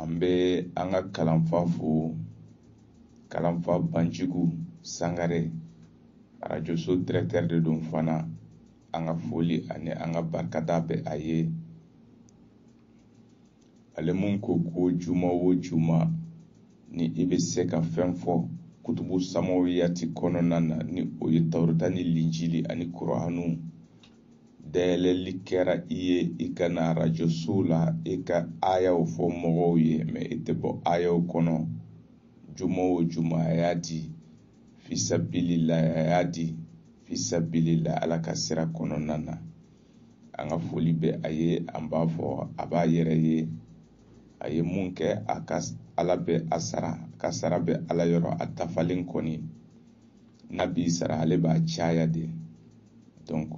an bɛ an ka kalanfa fo kalanfa banjugu sangare arajoso dirɛkitɛri de don fana an ka foli ani an ka barikada bɛ a ye ale min ko ko juma o juma ni i bɛ se ka fɛn fɔ kutubu samawiyati kɔnɔna na ni o ye tawureta ni linjili ani kuranu dayɛlɛli kɛra i ye i ka na arajoso la i ka ayaw fɔ mɔgɔw ye mɛ i tɛ bɔ ayaw kɔnɔ juma o juma a y'a di fisabilila a y'a di fisabilila ala ka sira kɔnɔna na an ka foli bɛ a ye an b'a fɔ a b'a yɛrɛ ye a ye mun kɛ a ka ala bɛ a sara a ka sara bɛ ala yɔrɔ a dafalen kɔni n'a b'i sara ale b'a caya de donc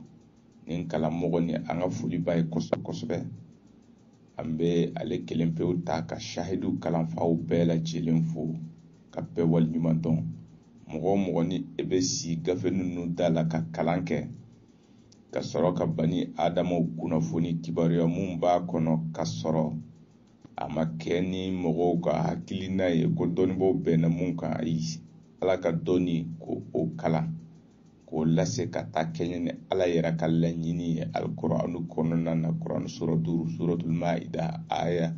nin kalanmɔgɔ nin an ka foli b'a ye kosɛbɛ kosɛbɛ an bɛ ale kelen pewu ta ka sahidu kalanfaw bɛɛ lajɛlen fo ka bɛɛ waleɲuman dɔn mɔgɔ o mɔgɔ ni e bɛ si gafe ninnu da la ka kalan kɛ ka sɔrɔ ka bani adamaw kunnafoni kibaruya mun b'a kɔnɔ ka sɔrɔ a ma kɛ ni mɔgɔw ka hakilina ye ko dɔnnibaaw bɛnna mun kan ayi ala ka dɔnni k'o kalan k'o lase ka taa kɛɲɛ ni ala yɛrɛ ka laɲini ye alikuranu kɔnɔna na kuran sura duuru suratul maida aya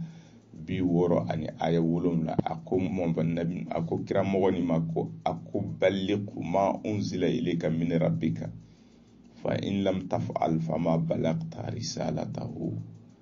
bi wɔɔrɔ ani aya wolonwula a ko mɔmɔnabi a ko kira mɔgɔ nin ma ko a ko balligu ma unzila ilayka min rabbika fa in lam taf'al fama ballagta risalatahu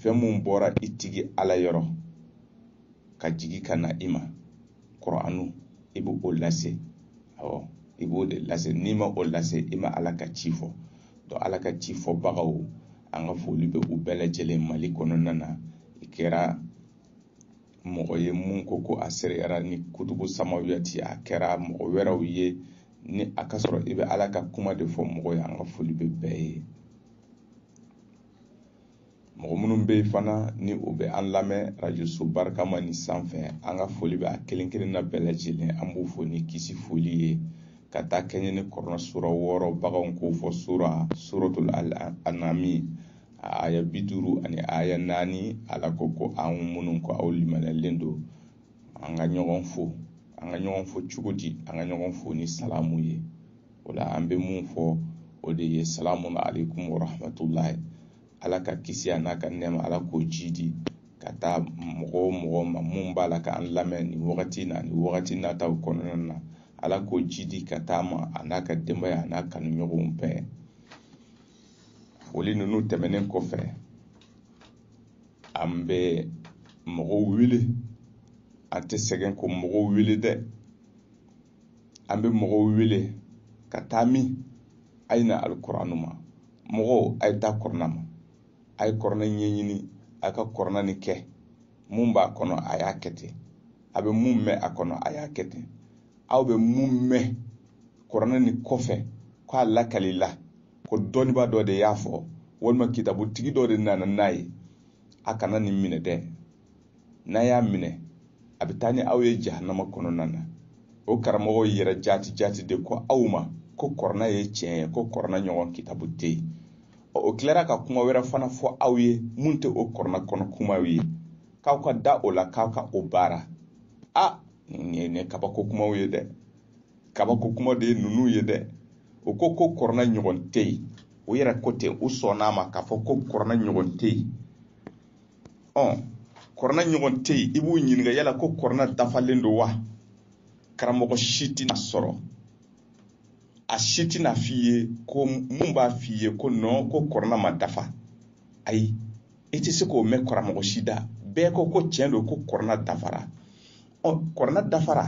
fɛn mun bɔra i tigi ala yɔrɔ ka jigi ka na i ma kuranu i bɛ o lase awɔ i b'o de lase n'i ma o lase i ma ala ka ci fɔ donc ala ka cifɔbagaw an ka foli bɛ u bɛɛ lajɛlen mali kɔnɔna na i kɛra mɔgɔ ye mun ko ko a seereyara ni kutubu samawiyati a kɛra mɔgɔ wɛrɛw ye ni a ka sɔrɔ i bɛ ala ka kuma de fɔ mɔgɔ ye an ka foli bɛ bɛɛ ye mɔgɔ minnu bɛ yen fana ni o bɛ an lamɛn arajoso barikama nin sanfɛ an ka foli bɛ a kelen kelen na bɛɛ lajɛlen an b'u fo ni kisi foli ye ka taa kɛɲɛ ni kurana sura wɔɔrɔ baganw k'o fɔ sura suratul anami a aya bi duuru ani aya naani ala ko ko an minnu ko aw limaniyalen don an ka ɲɔgɔn fo an ka ɲɔgɔn fo cogo di an ka ɲɔgɔn fo ni salamu ye o la an bɛ mun fɔ o de ye salamu aleykum wa rahmatulahi ala ka kisi a n'a ka nɛɛma ala k'o jiidi ka taa mɔgɔ o mɔgɔ ma mun b'a la k'an lamɛn nin wagati na ni wagati nataw kɔnɔna na ala k'o jiidi ka t'a ma a n'a ka denbaya a n'a kanuɲɔgɔnw bɛɛ foli ninnu tɛmɛnen kɔfɛ an bɛ mɔgɔw wele an tɛ sɛgɛn ka mɔgɔw wele dɛ an bɛ mɔgɔw wele ka taa min a ye na alikuranu ma mɔgɔw a ye taa kɔrɔna ma a ye kɔrɔna ɲɛɲini a ka kɔrɔna nin kɛ mun b'a kɔnɔ a y'a kɛ ten a bɛ mun mɛn a kɔnɔ a y'a kɛ ten aw bɛ mun mɛn kɔrɔna nin kɔfɛ k'a lakalila ko dɔnnibaa dɔ de y'a fɔ walima kitabutigi dɔ de nana n'a ye a kana nin minɛ dɛ n'a y'a minɛ a bɛ taa ni aw ye jahanama kɔnɔna na o karamɔgɔw yɛrɛ jaati jaati de ko aw ma ko kɔrɔna ye tiɲɛ ye ko kɔrɔna ɲɔgɔn kitabu tɛ yen o tilara ka kuma wɛrɛ fana fɔ aw ye mun tɛ o kɔrɔna kɔnɔ kumaw ye k'aw ka da o la k'aw ka o baara a nin ye ne kabako kumaw ye dɛ kabako kuma de ye ninnu ye dɛ o ko ko kɔrɔna ɲɔgɔn tɛ yen o yɛrɛ ko ten u sɔnn'a ma k'a fɔ ko kɔrɔna ɲɔgɔn tɛ yen ɔ kɔrɔna ɲɔgɔn tɛ yen i b'u ɲininka yala ko kɔrɔna dafalen don wa karamɔgɔ si tɛna sɔrɔ a si tɛn'a f'i ye ko mun b'a f'i ye ko non ko kɔrɔna ma dafa ayi i tɛ se k'o mɛn karamɔgɔ si da bɛɛ ko ko tiɲɛ don ko kɔrɔna dafara ɔ kɔrɔna dafara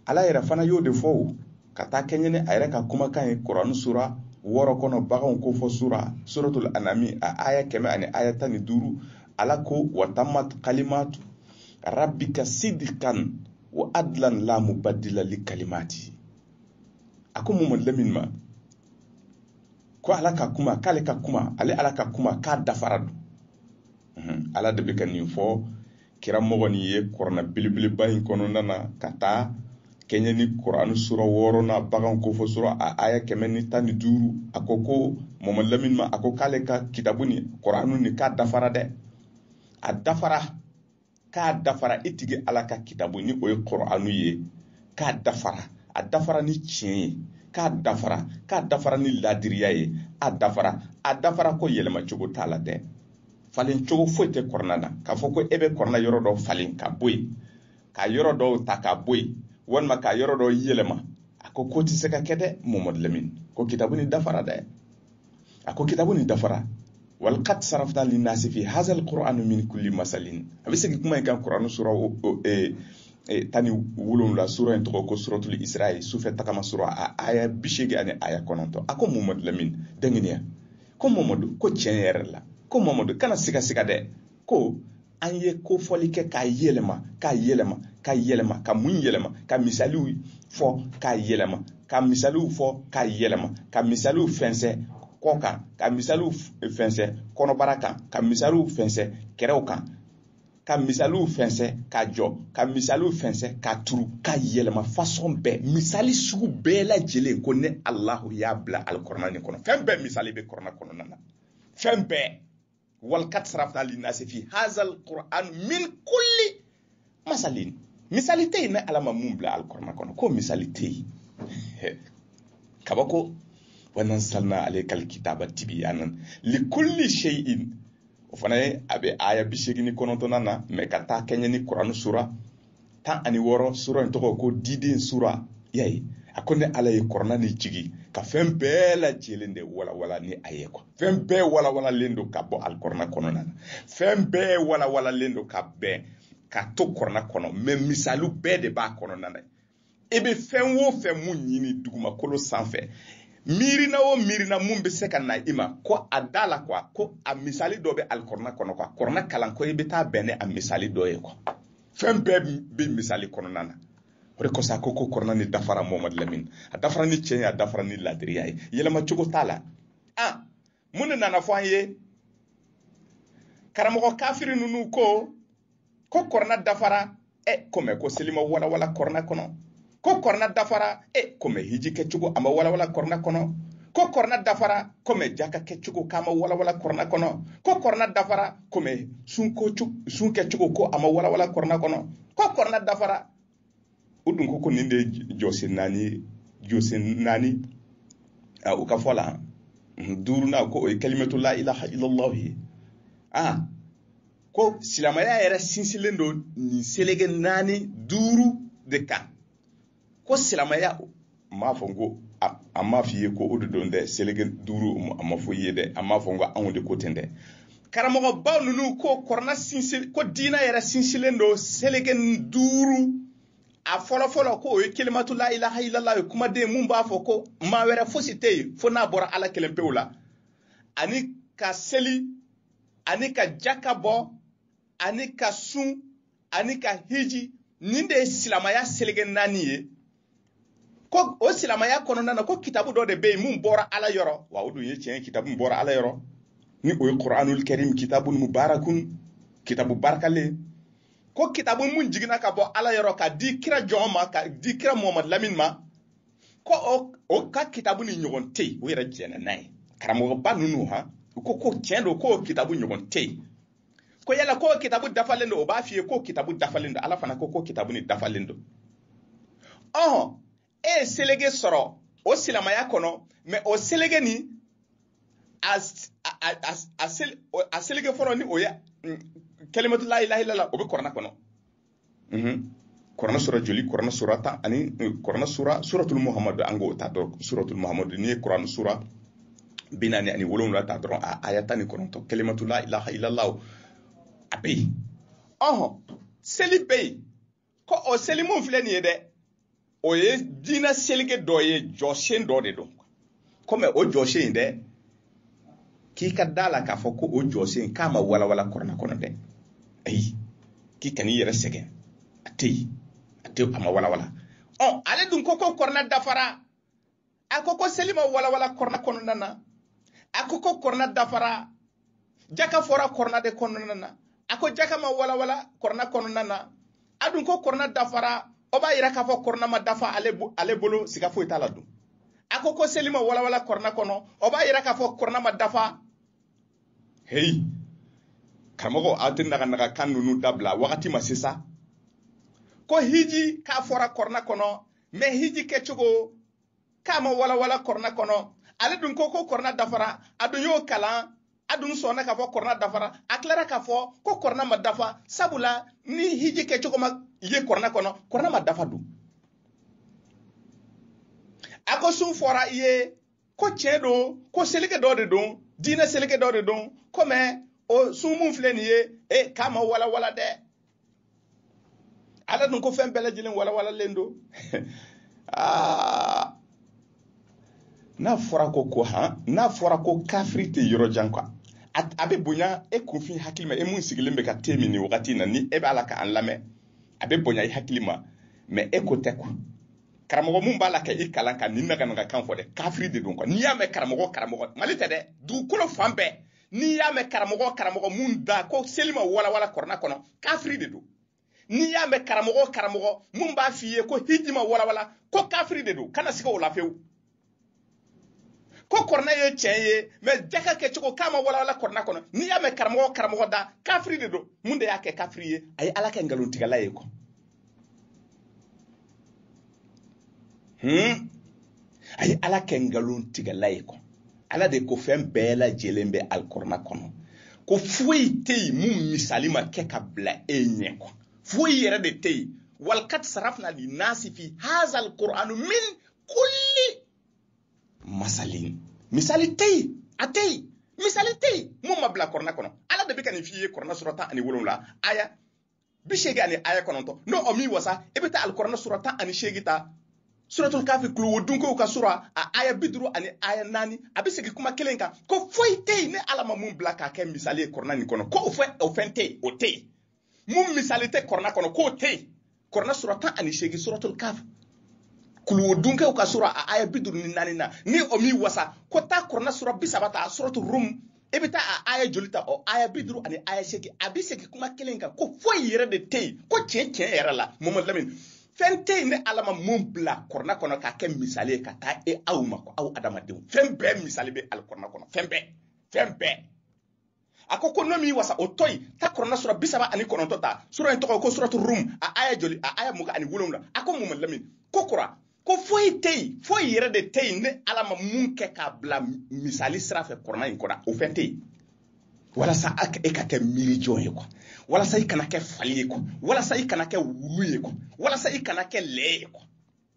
ala yɛrɛ fana y'o de fɔ o ka taa kɛɲɛ ni a yɛrɛ ka kumakan ye kuranu sura wɔɔrɔ kɔnɔ baganw kofɔ sura suratul anami a aya kɛmɛ ani aya tan ni duuru ala ko watamat kalimatu rabbika sidkan wa adlan la mubaddila li kalimati a ko mɔmɔ lamini ma ko ala ka kuma k'ale ka kuma ale ala ka kuma k'a dafara don ala de bɛ ka nin fɔ kira mɔgɔ nin ye kɔrɔna belebeleba in kɔnɔna na ka taa kɛɲɛ ni kuranu sura wɔɔrɔnan baganw kofɔ sura a aya kɛmɛ ni tan ni duuru a ko ko mɔmɔ lamini ma a ko k'ale ka kitabu nin kuranu nin k'a dafara dɛ a dafara k'a dafara i tigi ala ka kitabu ni o ye kuranu ye k'a dafara a dafara ni tiɲɛ ye k'a dafara k'a dafara ni ladiriya ye a dafara a dafara ko yɛlɛma cogo t'a la dɛ falen cogo foyi tɛ kɔrɔna na k'a fɔ ko e bɛ kɔrɔna yɔrɔ dɔ falen ka bɔ yen ka yɔrɔ dɔw ta ka bɔ yen walima ka yɔrɔ dɔw yɛlɛma a ko ko tɛ se ka kɛ dɛ mamadu lamin ko kitabu ni dafara dɛ a ko kitabu ni dafara walaqad sarafna linnasi fi hadha alqur'ani min kulli masalin a bɛ segin kuma in kan kuranu sura e, e, tan ni wolonwula sura in tɔgɔ ko suratul isra ye sufɛ tagama sura a aya bi seegin ani aya kɔnɔntɔn a ko mamadu lamin dɛnginiya ko mamadu ko tiɲɛ yɛrɛ la ko mamadu kana sigasiga dɛ ko an ye kofɔli kɛ k'a yɛlɛma k'a yɛlɛma ka yɛlɛma ka mun yɛlɛma ka misaliw fɔ k'a yɛlɛma ka misaliw fɔ k'a yɛlɛma ka misaliw fɛnsɛ kɔ kan ka misaliw fɛnsɛ kɔnɔbara kan ka misaliw fɛnsɛ kɛrɛw kan ka misaliw fɛnsɛ ka jɔ ka misaliw fɛnsɛ ka turu ka yɛlɛma fasɔn bɛɛ misali sugu bɛɛ lajɛlen ko ne alahu y'a bila alikɔrɔna nin kɔnɔ fɛn bɛɛ misali bɛ kɔrɔna kɔnɔna na fɛn bɛɛ walaqad sarafna linnasi fi hazal qur'an min kulli masalin misali tɛ yen ne ala ma mun bila alikɔrɔna kɔnɔ ko misali tɛ yen kaba ko wanazalna alaykal kitaba tibiyanan likulli shay'in o fana ye a bɛ aya bi seegin ni kɔnɔntɔnnan na mɛ ka taa kɛɲɛ ni kurani sura tan ani wɔɔrɔ sura in tɔgɔ ko diden sura y'a ye a ko ne ala ye kɔrɔna ni jigin ka fɛn bɛɛ lajɛlen de walawala ni a ye kuwa fɛn bɛɛ walawalalen don ka bɔ alikɔrɔna kɔnɔna na fɛn bɛɛ walawalalen don ka ban ka to kɔrɔna kɔnɔ mɛ misaliw bɛɛ de b'a kɔnɔna na i bɛ fɛn o fɛn mun ɲini dugumakolo sanfɛ miirina o miirina mun bɛ se ka na i ma ko a da la kuwa ko a misali dɔ bɛ alikɔrɔna kɔnɔ kuwa kɔrɔna kalan ko i bɛ taa bɛn ni a misali dɔ ye kuwa fɛn bɛɛ bɛ misali kɔnɔna na o de kosɔn a ko ko kɔrɔna ni dafara mamadu lamini a dafara ni tiɲɛ ye a dafara ni laadiriya ye yɛlɛma cogo t'a la a mun de nana fɔ an ye karamɔgɔ kafiri ninnu ko ko kɔrɔna dafara ɛ ko mɛ ko seli ma walawala kɔrɔna kɔnɔ ko kɔrɔna dafara ɛ ko mɛ hiji kɛcogo a ma walawala kɔrɔna kɔnɔ ko kɔrɔna dafara ko mɛ jaka kɛcogo k'a ma walawala kɔrɔna kɔnɔ ko kɔrɔna dafara ko mɛ sun kɛcogo ko a ma walawala kɔrɔna kɔnɔ ko kɔrɔna dafara o dun ko ko nin de ye jɔsen naani ye jɔsen naani a o ka fɔ la duurunan ko o ye kalimatu la ilaha illallah ye a ko silamɛya yɛrɛ sinsinlen don nin seleke naani duuru de kan ko silamɛya n m'a fɔ n ko a m'a f'i ye ko o de don dɛ seleke duuru a ma fɔ i ye dɛ a m'a fɔ n ko anw de ko ten dɛ karamɔgɔbaw ninnu ko kɔrɔna sinsin ko diinɛ yɛrɛ sinsinlen don seleke duuru a fɔlɔfɔlɔ ko o ye kelimatu la ilaha ilala ye kumaden mun b'a fɔ ko maa wɛrɛ fosi tɛ yen fo n'a bɔra ala kelen pewu la ani ka seli ani ka jaka bɔ ani ka sun ani ka hiji nin de ye silamaya seleke naani ye ko o silamaya kɔnɔna na ko kitabu dɔ de bɛ yen mun bɔra ala yɔrɔ wa o dun ye tiɲɛ kitabu min bɔra ala yɔrɔ ni o ye kuranul karim kitabu mubarakun kitabu barikalen ko kitabu mun jiginna ka bɔ ala yɔrɔ ka di kira jɔn ma ka di kira muhamadu lamini ma ko o o ka kitabu ni ɲɔgɔn tɛ yen o yɛrɛ jɛnna n'a ye karamɔgɔba ninnu ha u ko ko tiɲɛ don k'o kitabu ɲɔgɔn tɛ yen ko yala ko kitabu dafalen don o b'a f'i ye ko kitabu dafalen don ala fana ko ko kitabu ni dafalen don ɔhɔn e ye selege sɔrɔ o silamaya kɔnɔ mɛ o selege ni a selege fɔlɔ ni o ye kelimatu la ilaha ilala o bɛ kɔrɔna kɔnɔ kuranɛ sura joli kuranɛ sura tan ani kuranɛ sura suratul muhammadu an k'o ta dɔrɔn suratul muhammadu n'i ye kuranɛ sura bi naani ani wolonwula ta dɔrɔn a aya tan ni kɔnɔntɔn kelimatu la ilaha ilalahu a bɛ yen ɔhɔn seli bɛ yen ko o seli mun filɛ nin ye dɛ o ye diinɛ selege dɔ ye jɔsen dɔ de don kɔmi o jɔsen in dɛ k'i ka da a la k'a fɔ ko o jɔsen k'a ma walawala kɔrɔna kɔnɔ dɛ ayi k'i kan'i yɛrɛ sɛgɛn a tɛ yen a tɛ a ma walawala ɔ ale dun ko ko kɔrɔna dafara a ko ko seli ma walawala kɔrɔna kɔnɔna na a ko ko kɔrɔna dafara jaka fɔra kɔrɔna de kɔnɔna na a ko jaka ma walawala kɔrɔna kɔnɔna na a dun ko kɔrɔna dafara o b'a yira k'a fɔ kɔrɔna ma dafa ale bolo siga foyi t'a la dun a ko ko seli ma walawala kɔrɔna kɔnɔ o b'a yira k'a fɔ kɔrɔna ma dafa heyi karamɔgɔ aw tɛ naganaga kan ninnu dabila wagati ma se sa ko hiji k'a fɔra kɔrɔna kɔnɔ mɛ hiji kɛcogo k'a ma walawala kɔrɔna kɔnɔ ale dun ko ko kɔrɔna dafara a dun y'o kalan a dun sɔnna k'a fɔ kɔrɔna dafara a tilara k'a fɔ ko kɔrɔna ma dafa sabula ni hiji kɛcogo ma ye kɔrɔna kɔnɔ kɔrɔna ma dafa dun a ko sun fɔra i ye ko tiɲɛ don ko seleke dɔ de don diinɛ seleke dɔ de don ko mɛ o sun mun filɛ nin ye e k'a ma walawala dɛ ala dun ko fɛn bɛɛ lajɛlen walawalalen don aa n'a fɔra ko ko han n'a fɔra ko kafiri tɛ yɔrɔ jan kuwa a bɛ bonya e kunfin hakili ma e mun sigilen bɛ ka te min nin wagati in na ni e b'a la k'an lamɛn a bɛ bonya i hakili ma mɛ e ko tɛ kuwa karamɔgɔ mun b'a la ka i kalan ka nin naganaga kan fɔ dɛ kafiri de don kuwa n'i y'a mɛn karamɔgɔ karamɔgɔ mali tɛ dɛ dugukolo fan bɛɛ n'i y'a mɛn karamɔgɔ karamɔgɔ mun da ko seli ma walawala kɔrɔna kɔnɔ kafiri de don n'i y'a mɛn karamɔgɔ karamɔgɔ mun b'a f'i ye ko hiji ma walawala ko kafiri de don kana siga o la fewu ko kɔrɔna ye tiɲɛ ye mɛ jaka kɛcogo k'a ma walawala kɔrɔna kɔnɔ n'i y'a mɛn karamɔgɔ karamɔgɔ da kafiri de don mun de y'a kɛ kafiri ye a ye ala kɛ nkalontigɛla ye kɔ hmm? a ye ala kɛ nkalontigɛla ye kɔ ala de ko fɛn bɛɛ lajɛlen bɛ alikɔrɔna kɔnɔ ko foyi tɛ yen mun misali ma kɛ ka bila e ɲɛ kɔ foyi yɛrɛ de tɛ yen walakadi sarafina linasi fi hazal kur'ani min kulli masalin misali tɛ yen a tɛ yen misali tɛ yen mun ma bila kɔrɔna kɔnɔ ala de bɛ ka nin f'i ye kɔrɔna sura tan ani wolonwula aya bi seegin ani aya kɔnɔntɔn n'o m'i wasa i bɛ taa alikɔrɔna sura tan ani seegin ta suratul kafi kuluwodunkɛw ka sura a aya bi duuru ani aya naani a bɛ segin kuma kelen kan ko foyi tɛ yen ne ala ma mun bila k'a kɛ misali ye kɔrɔna nin kɔnɔ ko o fɛn o fɛn tɛ yen o tɛ yen mun misali tɛ kɔrɔna kɔnɔ k'o tɛ yen kɔrɔna sura tan ani seegin suratul kaf kuluwodunkɛw ka sura a aya bi duuru ni naani na ni o m'i wasa ko taa kɔrɔna sura bi saba ta suratul rum i bɛ taa a aya joli ta o aya bi duuru ani aya seegin a bɛ segin kuma kelen kan ko foyi yɛrɛ de tɛ yen ko tiɲɛ tiɲɛ yɛrɛ la mamadu lamini fɛn tɛ yen ne ala ma mun bila kɔrɔna kɔnɔ k'a kɛ misali ye ka taa e aw ma ko aw adamadenw fɛn bɛɛ misali bɛ alikɔrɔna kɔnɔ fɛn bɛɛ fɛn bɛɛ a ko ko n'o m'i wasa o to yen taa kɔrɔna sura bi saba ani kɔnɔntɔn ta sura in tɔgɔ ko suratu rum a aya joli a aya mugan ani wolonwula a ko mamadu lamini kokura ko foyi tɛ yen foyi yɛrɛ de tɛ yen ne ala ma mun kɛ k'a bila misali sira fɛ kɔrɔna in kɔnɔ o fɛn tɛ yen walasa e ka kɛ miirijɔn ye kuwa walasa i kana kɛ fali ye kuwa walasa i kana kɛ wulu ye kuwa walasa i kana kɛ lɛ ye kuwa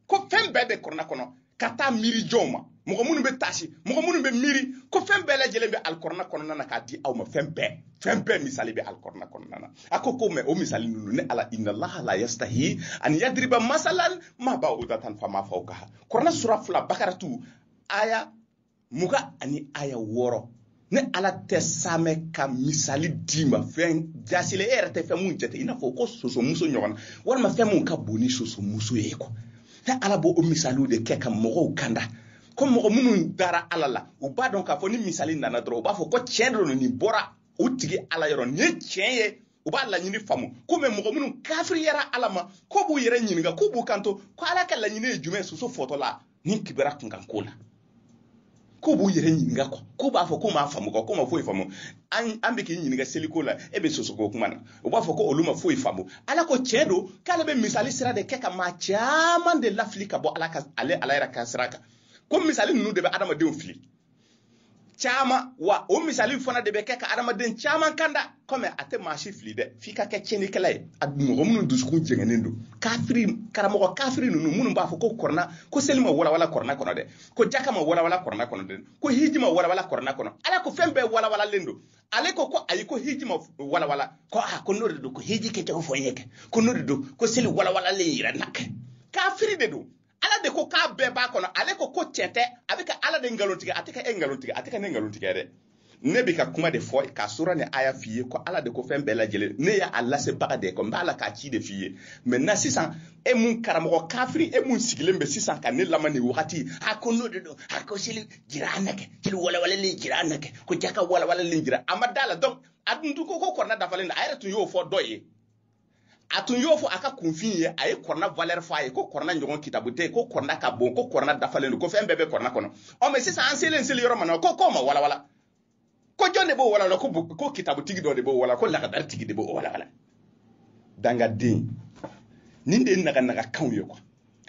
ko fɛn bɛɛ bɛ kɔrɔna kɔnɔ ka taa miirijɔnw ma mɔgɔ minnu bɛ taasi mɔgɔ minnu bɛ miiri ko fɛn bɛɛ lajɛlen bɛ alikɔrɔna kɔnɔna na k'a di aw ma fɛn bɛɛ fɛn bɛɛ misali bɛ alikɔrɔna kɔnɔna na a ko ko mɛ o misali ninnu ne ala inalaha la yastahi ani yadiriba masalan ma ba'udatan fama fawkaha kɔrɔna sura fila bakaratu aya mugan ani aya wɔɔrɔ ne ala tɛ saamɛ ka misali d'i ma fɛn jaasilen e yɛrɛ tɛ fɛn mun jate i n'a fɔ ko sosomuso ɲɔgɔn walima fɛn mun ka bon ni sosomuso ye kɔ ne ala b'o o misaliw de kɛ ka mɔgɔw kanda ko mɔgɔ minnu dara ala la u b'a dɔn k'a fɔ ni misali nana dɔrɔn u b'a fɔ ko tiɲɛ de don nin bɔra u tigi ala yɔrɔ nin ye tiɲɛ ye u b'a laɲini faamu ko mɛ mɔgɔ minnu kafiriyara ala ma k'u b'u yɛrɛ ɲininka k'u b'u kanto ko ala ka laɲini ye jumɛn soso fɔtɔla ni kibaru kunkan ko la k'u b'u yɛrɛ ɲininka kɔ k'u b'a fɔ k'u m'a faamu kɔ k'u ma foyi faamu an bɛ k'i ɲininka seliko la e bɛ sosoko kuma na u b'a fɔ ko olu ma foyi faamu ala ko tiɲɛ don k'ale bɛ misali sira de kɛ ka maa caman de lafili ka bɔ ala ka ale ala yɛrɛ ka sira kan ko misali ninnu de bɛ adamadenw fili caman wa o misali fana de bɛ kɛ ka adamaden caman kanda kɔmi a tɛ maa si fili dɛ f'i ka kɛ tiɲɛnikɛla ye a mɔgɔ minnu dusukun jɛngɛnnen don kafiri karamɔgɔ kafiri ninnu minnu b'a fɔ ko kɔrɔna ko seli ma walawala kɔrɔna kɔnɔ dɛ ko jaka ma walawala kɔrɔna kɔnɔ dɛ ko hiji ma walawala kɔrɔna kɔnɔ ala ko fɛn bɛɛ walawalalen don ale ko ko ayi ko hiji ma walawala ko a ah, ko n'o de don ko hiji kɛcogo fɔ n ye kɛ ko n'o de don ko seli walawalalen yira n na kɛ kafiri de don ala de ko k'a bɛɛ b'a kɔnɔ ale ko ko tiɲɛ tɛ a bɛ ka ala de nkalontigiya a tɛ ka e nkalontigiya a tɛ ka ne nkalontigiya dɛ ne bɛ ka kuma de fɔ ka sura ni aya f'i ye ko ala de ko fɛn bɛɛ lajɛlen ne y'a lasebaga de ye ko n b'ala ka ci de f'i ye mɛ na sisan e mun karamɔgɔ kafiri e mun sigilen bɛ sisan ka ne lamɛn nin wagati a ko n'o de don a ko seli jira an na kɛ seli walawalalen jira an na kɛ ko jaka walawalalen jira a ma da a la donc a dun ko ko kɔrɔna dafalen don a yɛrɛ tun y'o fɔ dɔ ye a tun y'o fɔ a ka kunfinw ye a ye kɔrɔna valeur fɔ a ye ko kɔrɔna ɲɔgɔn kitabu tɛ ko kɔrɔna ka bon ko kɔrɔna dafalen don ko fɛn bɛɛ bɛ kɔrɔna kɔnɔ ɔ mais sisan an selen seli yɔrɔ ma na ko k'o ma walawala ko jɔn de b'o walawala ko ko kitabutigi dɔ de b'o walawala ko lagadari tigi de b'o walawala dangaden nin de ye naga nagakanw ye kuwa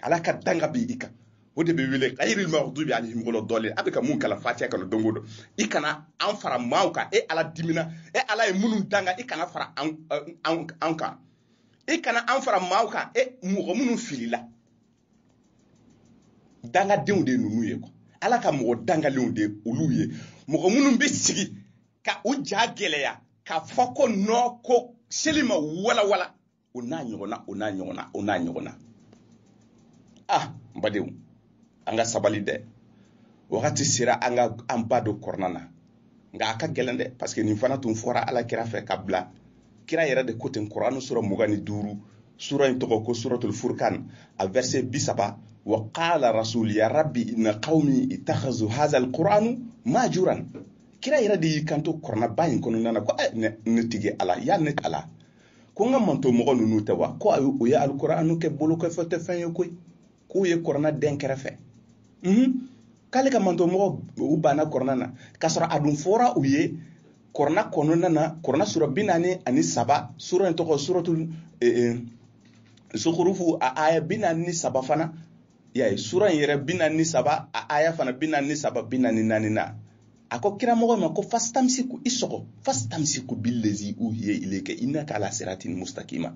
ala ka danga bin i kan o de bɛ wele ghairil maghdubi alaihim wala dallin a bɛ ka mun kalan fatiya kɔnɔ don o don i kana an fara maaw kan e ala dimina e ala ye minnu danga i kana fara an kan i kana an fara maaw kan e mɔgɔ minnu filila dangadenw de ninnu ye kuwa ala ka mɔgɔ dangalenw de olu ye mɔgɔ minnu bɛ sigi ka u ja gɛlɛya ka fɔ ko non ko seli ma walawala o n'a ɲɔgɔnna o n'a ɲɔgɔnna o n'a ɲɔgɔnna ah n badenw an ka sabali dɛ wagati sera an ka an ba don kɔrɔna na nka a ka gɛlɛn dɛ parce que nin fana tun fɔra ala kira fɛ ka bila kira yɛrɛ de ko ten kɔrɔna sura mugan ni duuru sura in tɔgɔ ko suratul furkan a verset bi saba wa qala rasul ya rabbi inna qaumi itakhazu hadha alquranu mahjuran kira yɛrɛ de y'i kanto kɔrɔnaba in kɔnɔna na ko eh, ne tigi ala ya ne ala ko n ka mantɔn mɔgɔ ninnu tɛ wa ko ayi u ye alkuranu kɛ bolokɔfɛfɛn ye koyi k'u ye kɔrɔna dɛn kɛrɛfɛ k'ale ka mantɔn mɔgɔw banna kɔrɔna na k'a sɔrɔ a dun fɔra u ye kɔrɔna kɔnɔna na kɔrɔna sura bi naani ani saba sura in tɔgɔ suratu zukurufu a aya bi naani ni saba fana y'a ye sura in yɛrɛ bi naani ni saba a aya fana bi naani ni saba bi naani naani na a ko kira mɔgɔ ma ko fasitamisiku i sɔgɔ fasitamisiku billezi uhiye ileke innaka ala siratin mustakima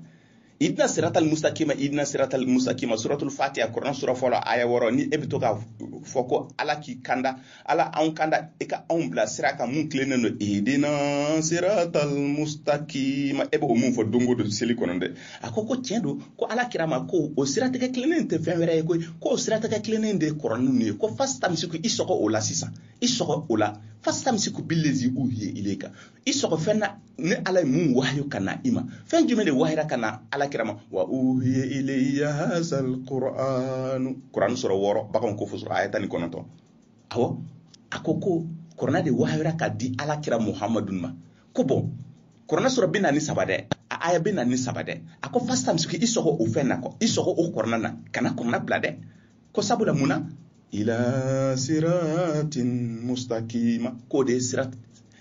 idina siratal mustakima idina siratal mustakima suratul fatiha kuran sura fɔlɔ aya wɔɔrɔ ni e bɛ to k'a fɔ ko ala k'i kanda ala anw kanda i ka anw bila sira kan mun tilennen don idina siratal mustakima e b'o mun fɔ don o don seli kɔnɔ dɛ a ko ko tiɲɛ don ko ala kira ma ko o siratigɛ tilennen tɛ fɛn wɛrɛ ye koyi ko o siratigɛ tilennen de ye kɔrɔna ye ko fasitamisiku i sɔgɔ o la sisan i sɔgɔ o la fasitamisiku billezi uhiye ileke i sɔgɔ fɛn na ni ala ye mun wahayo ka na i ma fɛn jumɛn de wahayira ka na ala kira ma wa uhiya ilayya hazal qur'anu qur'anu sura wɔɔrɔ baganw kofɔ sura aya tan ni kɔnɔntɔn awɔ a ko ko kɔrɔna de wahayara ka di ala kira muhamadu ma ko bɔn kɔrɔna sura bi naani ni saba dɛ a aya bi naani ni saba dɛ a ko fasitamisiku i sɔgɔ o fɛn na kɔ i sɔgɔ o kɔrɔna na kana kɔrɔna bila dɛ ko sabula mun na ala siratin mustakima k'o de ye sira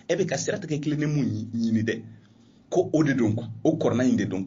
e bɛ ka siratigɛ tilennen mun ɲini dɛ ko o de don o kɔrɔna in de don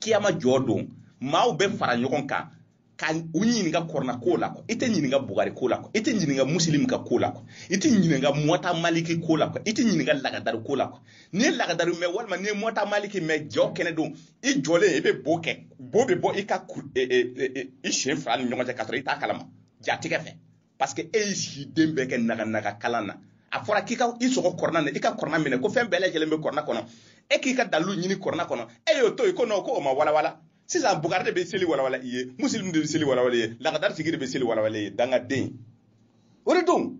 kiyama jɔ don maaw bɛ fara ɲɔgɔn kan ka u ɲininka kɔrɔna ko la kɔ i tɛ ɲininka bugari ko la i tɛ ɲininka musilimu ka ko la i tɛ ɲininka mɔta maliki ko la i tɛ ɲininka lagadari ko la n'i ye lagadari mɛn walima n'i ye mɔta maliki mɛn jɔ kɛnɛ don i jɔlen i bɛ bo kɛ bo bɛ bɔ i ka e, e, e, i sen fila ni ɲɔgɔn cɛ k'a sɔrɔ i t'a kalama jatigɛ fɛ parce que e y'i si den bɛɛ kɛ naganaga kalan na a fɔra k'i ka i sɔgɔ kɔrɔna na i ka kɔrɔna minɛ ko fɛn bɛɛ lajɛlen bɛ kɔrɔna kɔnɔ e k'i ka dalilu ɲini kɔrɔna kɔnɔ e y'o to yen ko non ko o ma walawala sisan bugari de bɛ seli walawala i ye musilimu de bɛ seli walawala i ye lagadari sigi de bɛ seli walawala i ye dangaden o de don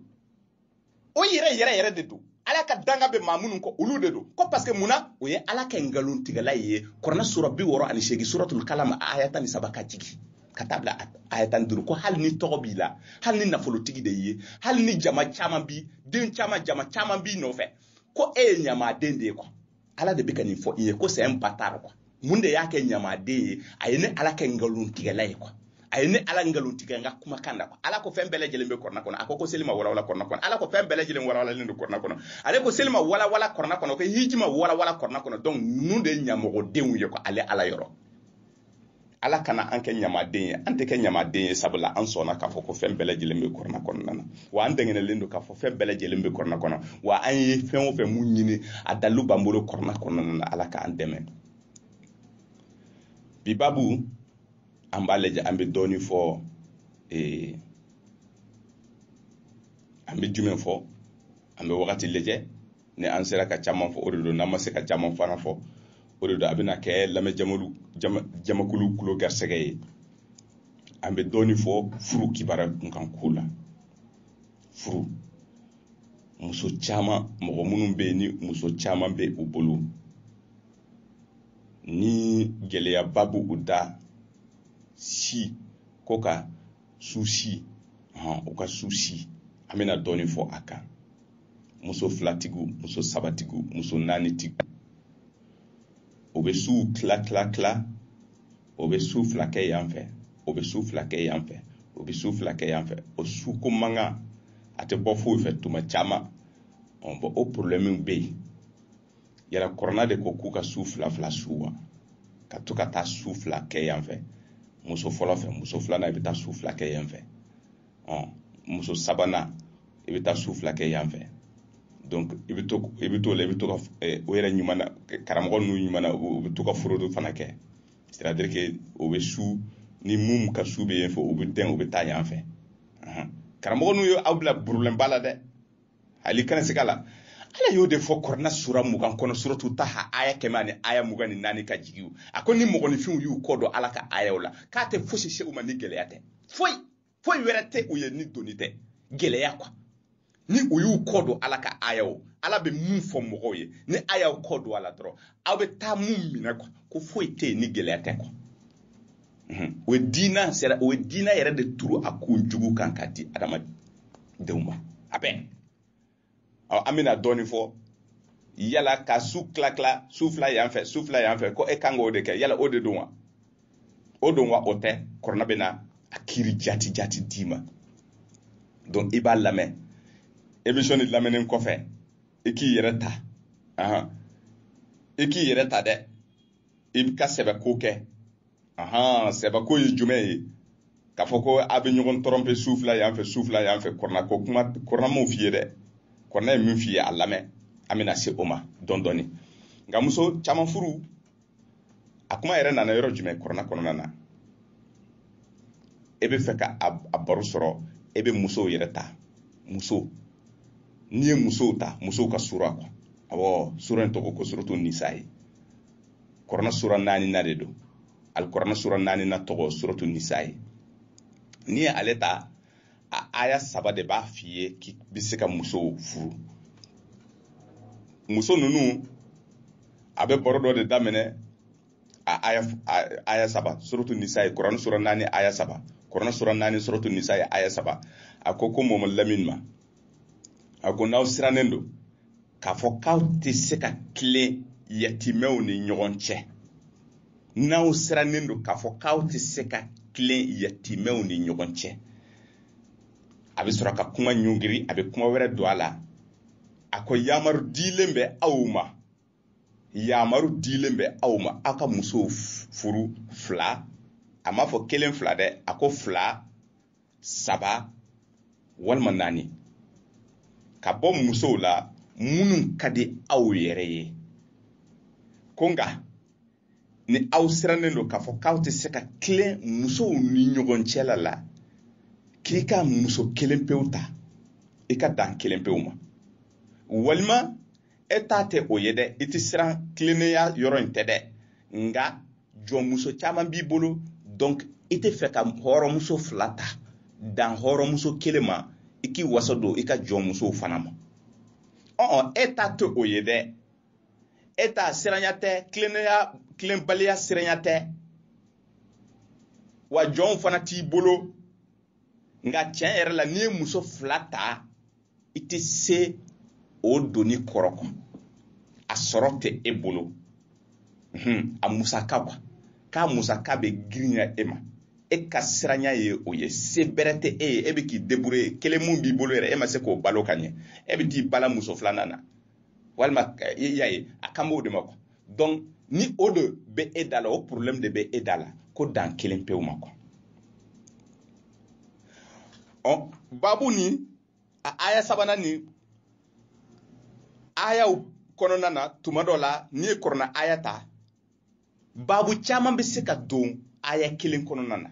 o yɛrɛ yɛrɛ yɛrɛ de don ala ka danga bɛ maa minnu kɔ olu de don ko parce que mun na o ye ala kɛ nkalontigɛla ye kɔrɔna sura bi wɔɔrɔ ani seegin suratul kalam aya tan ni saba ka jigin ka taa bila aya tan ni duuru ko hali ni tɔgɔ b'i la hali ni nafolotigi de y'i ye hali ni jama caman b'i den caman jama caman b'i nɔfɛ ko e ye ɲamaden de ye kuwa ala de bɛ ka nin fɔ i ye ko sɛn ba taara kuwa mun de y'a kɛ ɲamaden ye a ye ne ala kɛ nkalontigɛla ye kuwa a ye ne ala nkalon tigɛ n ka kumakan na kuwa ala ko fɛn bɛɛ lajɛlen bɛ kɔrɔna kɔnɔ a ko ko seli ma walawala kɔrɔna kɔnɔ ala ko fɛn bɛɛ lajɛlen walawalalen don kɔrɔna kɔnɔ ale ko seli ma walawala kɔrɔna kɔnɔ ko hiji ma walawala kɔrɔna kɔnɔ donc ninnu de ye ɲamɔgɔdenw ye kuwa ale ala yɔrɔ ala kana an kɛ ɲamaden ye an tɛ kɛ ɲamaden ye sabula an sɔnna k'a fɔ ko fɛn bɛɛ lajɛlen bɛ kɔrɔna kɔnɔna na wa an dɛngɛnɛlen don k'a fɔ fɛn bɛɛ lajɛlen bɛ kɔrɔna kɔnɔ wa an ye fɛn o fɛn mun ɲini a dalilu b'an bolo kɔrɔna kɔnɔna na ala k'an dɛmɛ bi babu an b'a lajɛ an bɛ dɔɔnin fɔ ee an bɛ jumɛn fɔ an bɛ wagati lajɛ ni an sera ka caman fɔ o de don n'an ma se ka caman fana fɔ o de don a bɛna kɛ lamɛn jamakulu tulo garisɛgɛ ye an bɛ dɔɔni fɔ furu kibaruya kunkan ko la furu muso caman mɔgɔ minnu bɛ yen ni muso caman bɛ u bolo ni gɛlɛyaba b'u da si ko ka su si hɔn u ka su si an bɛna dɔɔnin fɔ a kan muso filatigiw muso sabatigiw muso naanitigiw o bɛ suw tila tila tila o bɛ su fila kɛ yan fɛ o bɛ su fila kɛ yan fɛ o bɛ su fila kɛ yan fɛ o su ko mankan a tɛ bɔ foyi fɛ tuma caman ɔ bɔn o porobilɛmu bɛ yen yala kɔrɔna de ko k'u ka su fila fila su wa ka to ka taa su fila kɛ yan fɛ muso fɔlɔ fɛ muso filanan i bɛ taa su fila kɛ yan fɛ ɔn muso sabanan i bɛ taa su fila kɛ yan fɛ donc i bɛ to i bɛ to la i bɛ to ka eh, o yɛrɛ ɲuman na karamɔgɔ ninnu ɲuman na u bɛ to ka fraude fana kɛ c'est à dire que o bɛ su ni mun ka su bɛ yen fɛ u bɛ dɛn u bɛ taa yan fɛ karamɔgɔ ninnu ye aw bila porobilɛmuba la dɛ ali kana siga a la ala y'o de fɔ kɔrɔna sura mugan kɔnɔ suratu taha aya kɛmɛ ani aya mugan ni naani ka jigin a ko ni mɔgɔninfinw y'u kɔ don ala ka ayaw la k'a tɛ fosi se u ma ni gɛlɛya tɛ foyi foyi wɛrɛ tɛ u ye ni doni tɛ gɛlɛya quoi ni u y'u kɔ don ala ka ayaw ala bɛ mun fɔ mɔgɔw ye ni a y'aw kɔ don a la dɔrɔn aw bɛ taa mun minɛ quoi ko foyi tɛ yen ni gɛlɛya tɛ quoi o ye diinɛ sera o ye diinɛ yɛrɛ de turu a kun jugu kan ka di adamadenw ma a bɛɛ ɔ an bɛna dɔɔnin fɔ yala ka su tila tila su fila yan fɛ su fila yan fɛ ko e kan k'o de kɛ yala o de don wa o don wa o tɛ kɔrɔna bɛna a kiri jaati jaati d'i ma donc i b'a lamɛn émission nin lamɛnnen kɔfɛ i k'i yɛrɛ ta i k'i yɛrɛ ta dɛ i ka sɛbɛko kɛ ahan sɛbɛko ye jumɛn ye k'a fɔ ko a bɛ ɲɔgɔn tromper su fila yan fɛ su fila yan fɛ kɔrɔna ko kuma kɔrɔna m'o f'i ye dɛ kɔrɔna ye min f'i ye a lamɛn an bɛna se o ma dɔɔni dɔɔni nka muso caman furu a kuma yɛrɛ nana yɔrɔ jumɛn kɔrɔna kɔnɔna na e bɛ fɛ ka a baro sɔrɔ e bɛ musow yɛrɛ ta muso n'i ye musow ta musow ka sura kɔ awɔ sura in tɔgɔ ko suratu nisayi kɔrɔna sura naaninan de don alikɔrɔna sura naaninan tɔgɔ suratu nisayi n'i ye ale ta a aya saba de b'a f'i ye k'i bɛ se ka musow furu muso ninnu a bɛ baro dɔ de daminɛ a aya aya saba suratu nisayi kɔrɔna sura naani aya saba kɔrɔna sura naani suratu nisayi aya saba a ko ko mɔmɔ lamini ma a ko n'aw sirannen don k'a fɔ k'aw tɛ se ka tilen yatimɛw ni ɲɔgɔn cɛ n'aw sirannen don k'a fɔ k'aw tɛ se ka tilen yatimɛw ni ɲɔgɔn cɛ a bɛ sɔrɔ ka kuma ɲɔngiri a bɛ kuma wɛrɛ don a la a ko yamaru dilen bɛ aw ma yamaru dilen bɛ aw ma aw ka musow furu fila a m'a fɔ kelen fila dɛ a ko fila saba walima naani ka bɔ musow la minnu ka di aw yɛrɛ ye ko nka ni aw sirannen don k'a fɔ k'aw tɛ se ka tilen musow ni ɲɔgɔn cɛla ala k'i ka muso kelen pewu ta i ka dan kelen pewu ma walima e ta tɛ o ye dɛ i tɛ siran tilennenya yɔrɔ in tɛ dɛ nka jɔnmuso caman b'i bolo donc i tɛ fɛ ka hɔrɔnmuso fila ta dan hɔrɔnmuso kelen ma i k'i wasa don i ka jɔnmusow fana ma ɔn ɔn e ta tɛ o ye dɛ e ta siranya tɛ tilennenya tilenbaliya siranya tɛ wa jɔnw fana t'i bolo nka tiɲɛ yɛrɛ la n'i ye muso fila ta i tɛ se o doni kɔrɔ kɔ a sɔrɔ tɛ e bolo a musaka kuwa k'a musaka bɛ girinya e ma e ka siranya ye o ye se bɛrɛ tɛ e ye e bɛ k'i débrouiller kelen mun b'i bolo yɛrɛ e ma se k'o balo ka ɲɛ e bɛ t'i bala muso filanan na walima i y'a ye a kan b'o de ma kuwa donc ni o de bɛ e da la o problème de bɛ e da la ko dan kelen pewu ma kuwa ɔ babu ni a aya sabanan ni ayaw kɔnɔna na tuma dɔ la n'i ye kurana aya ta babu caman bɛ se ka don aya kelen kɔnɔna na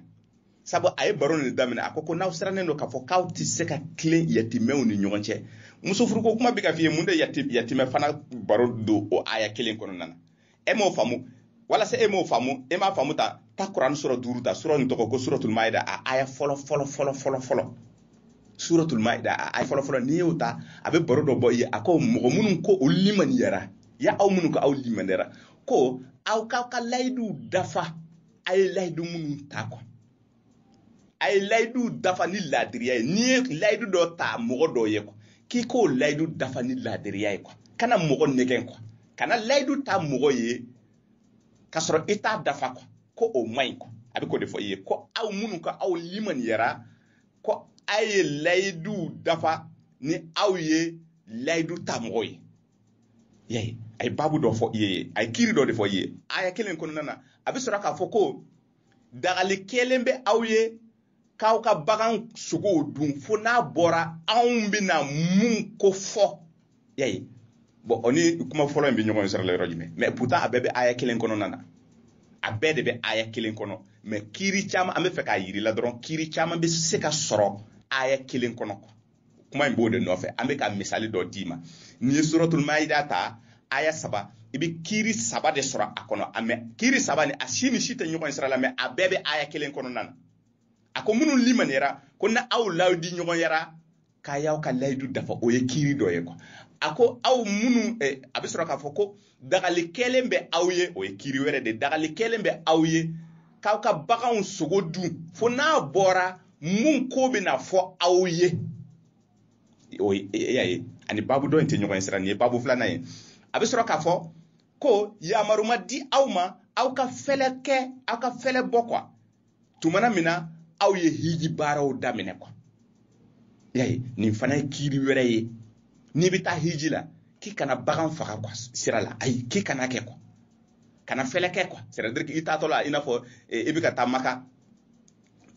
sabu a ye baro nin daminɛ a ko ko n'aw sirannen don k'a fɔ k'aw tɛ se ka tilen yatimɛw ni ɲɔgɔn cɛ muso furuko kuma bɛ ka f'i ye mun de yatimɛ fana baro don o aya kelen kɔnɔna na e m'o faamu walasa e m'o faamu e m'a faamu ta ta kuran suran duuru ta suran nin tɔgɔ ko suratul maida a aya fɔlɔ fɔlɔ fɔlɔ fɔlɔ fɔlɔ suratul maida a aya fɔlɔ fɔlɔ n'i y'o ta a bɛ baro dɔ bɔ i ye a ko mɔgɔ minnu ko olu limaniyara ya aw minnu ko aw limaniyara ko aw k'aw ka layiduw dafa a ye layidu minnu ta kɔ a ye layidu dafa ni laadiriya ye n'i ye layidu dɔ ta mɔgɔ dɔ ye kɔ k'i k'o layidu dafa ni laadiriya ye kɔ kana mɔgɔ nɛgɛn kɔ kana layidu ta mɔgɔ ye k'a sɔrɔ i t'a dafa kɔ ko o man ɲi kɔ a bɛ k'o de fɔ i ye ko aw minnu ko aw limaniyara ko a ye layiduw dafa ni aw ye layidu ta mɔgɔ ye y'a ye a ye babu dɔ fɔ i ye a ye kiri dɔ de fɔ i ye aya kelen kɔnɔna na a bɛ sɔrɔ k'a fɔ ko dagali kɛlen bɛ aw ye k'aw ka bagan sogow dun fo n'a bɔra anw bɛna mun ko fɔ y'a ye bon o ni kuma fɔlɔ in bɛ ɲɔgɔn sira la yɔrɔ jumɛn mɛ pourtant a bɛɛ bɛ aya kelen kɔnɔna na a bɛɛ de bɛ aya kelen kɔnɔ mɛ kiri caman an bɛ fɛ k'a yirila dɔrɔn kiri caman bɛ se ka sɔrɔ aya kelen kɔnɔ kuma in b'o de nɔfɛ an bɛ ka misali dɔ d'i ma n'i ye suratul maida ta aya saba i bɛ kiiri saba de sɔrɔ a kɔnɔ a mɛ kiiri saba nin a si ni si tɛ ɲɔgɔn sira la mɛ a bɛɛ bɛ aya kelen kɔnɔna na a ko minnu limaniyara ko n'aw layidu ɲɔgɔnyara k'a y'aw ka layidu dafa o ye kiiri dɔ ye quoi a ko aw minnu eh, a bɛ sɔrɔ k'a fɔ ko dagali kɛlen bɛ aw ye o ye kiri wɛrɛ de dagali kɛlen bɛ aw ye k'aw ka baganw sogo dun fo n'a bɔra mun ko bɛna fɔ aw ye o ye e, e, y'a ye ani babu dɔ in tɛ ɲɔgɔn ye sira nin ye babu filanan ye a bɛ sɔrɔ k'a fɔ ko yamaru ma di aw ma aw ka fɛlɛ kɛ aw ka fɛlɛ bɔ quoi tumana min na aw ye hiji baaraw daminɛ quoi y'a ye nin fana ye kiiri wɛrɛ ye n'i bɛ taa hiji la k'i kana bagan faga quoi sira la ayi k'i kana kɛ quoi kana fɛlɛ kɛ quoi c'est-à-dire k'i taatɔ la i n'a fɔ eh, i bɛ ka taa maka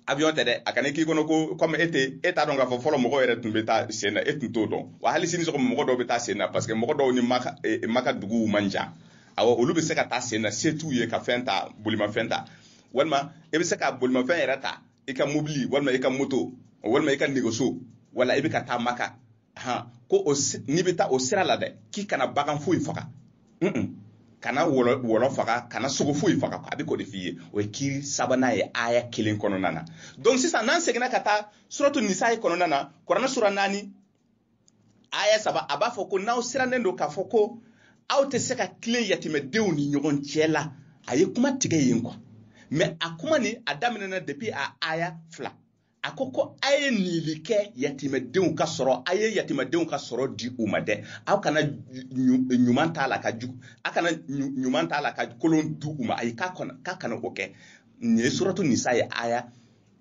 avion tɛ dɛ a kana k'i kɔnɔ ko comme e tɛ e t'a dɔn k'a fɔ fɔlɔ mɔgɔw yɛrɛ tun bɛ taa sen na e tun t'o dɔn wa hali sini sɔgɔma mɔgɔ dɔw bɛ taa sen na parce que mɔgɔ dɔw ni maka e, maka duguw man jan awɔ olu bɛ se ka taa sen na se t'u ye ka fɛn ta bolimafɛn ta walima i bɛ se ka bolimafɛn yɛrɛ ta i ka mobili walima i ka moto walima i ka nɛgɛso wala i bɛ ka taa maka han ko o n'i bɛ taa o sira la dɛ k'i kana bagan foyi faga kana wɔlɔ faga kana sogo foyi faga a bɛ k'o de f'i ye o ye kiri sabanan ye aya kelen kɔnɔna na donc sisan n'an seginna ka taa suratu nisayi kɔnɔna na kuranɛ sura naani aya saba a b'a fɔ ko n'aw sirannen don k'a fɔ ko aw tɛ se ka tilen yatimɛdenw ni ɲɔgɔn cɛ la a ye kuma tigɛ yen quoi mɛ a kuma nin a daminɛna depuis a aya fila a ko ko a ye nili kɛ yatimɛdenw ka sɔrɔ a ye yatimɛdenw ka sɔrɔ di u ma dɛ aw kana ɲuman t'a la ka jugu a kana ɲuman t'a la ka kolon di u ma ayi k'a kana o kɛ nin ye suratu nisayi aya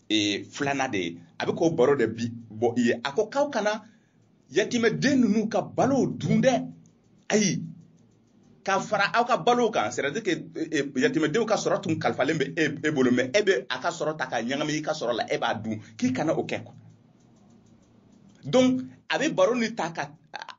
ee, filanan de ye a bɛ k'o baro de bi bɔ i ye a ko k'aw kana yatimɛden ninnu ka balow dun dɛ ayi ka fara aw ka balow kan c'est à dire que e, e, yatimɛdenw ka sɔrɔ tun kalifalen bɛ e, e bolo mɛ e bɛ a ka sɔrɔ ta k'a ɲagami i ka sɔrɔ la e b'a dun k'i kana o kɛ quoi donc a bɛ baro nin ta ka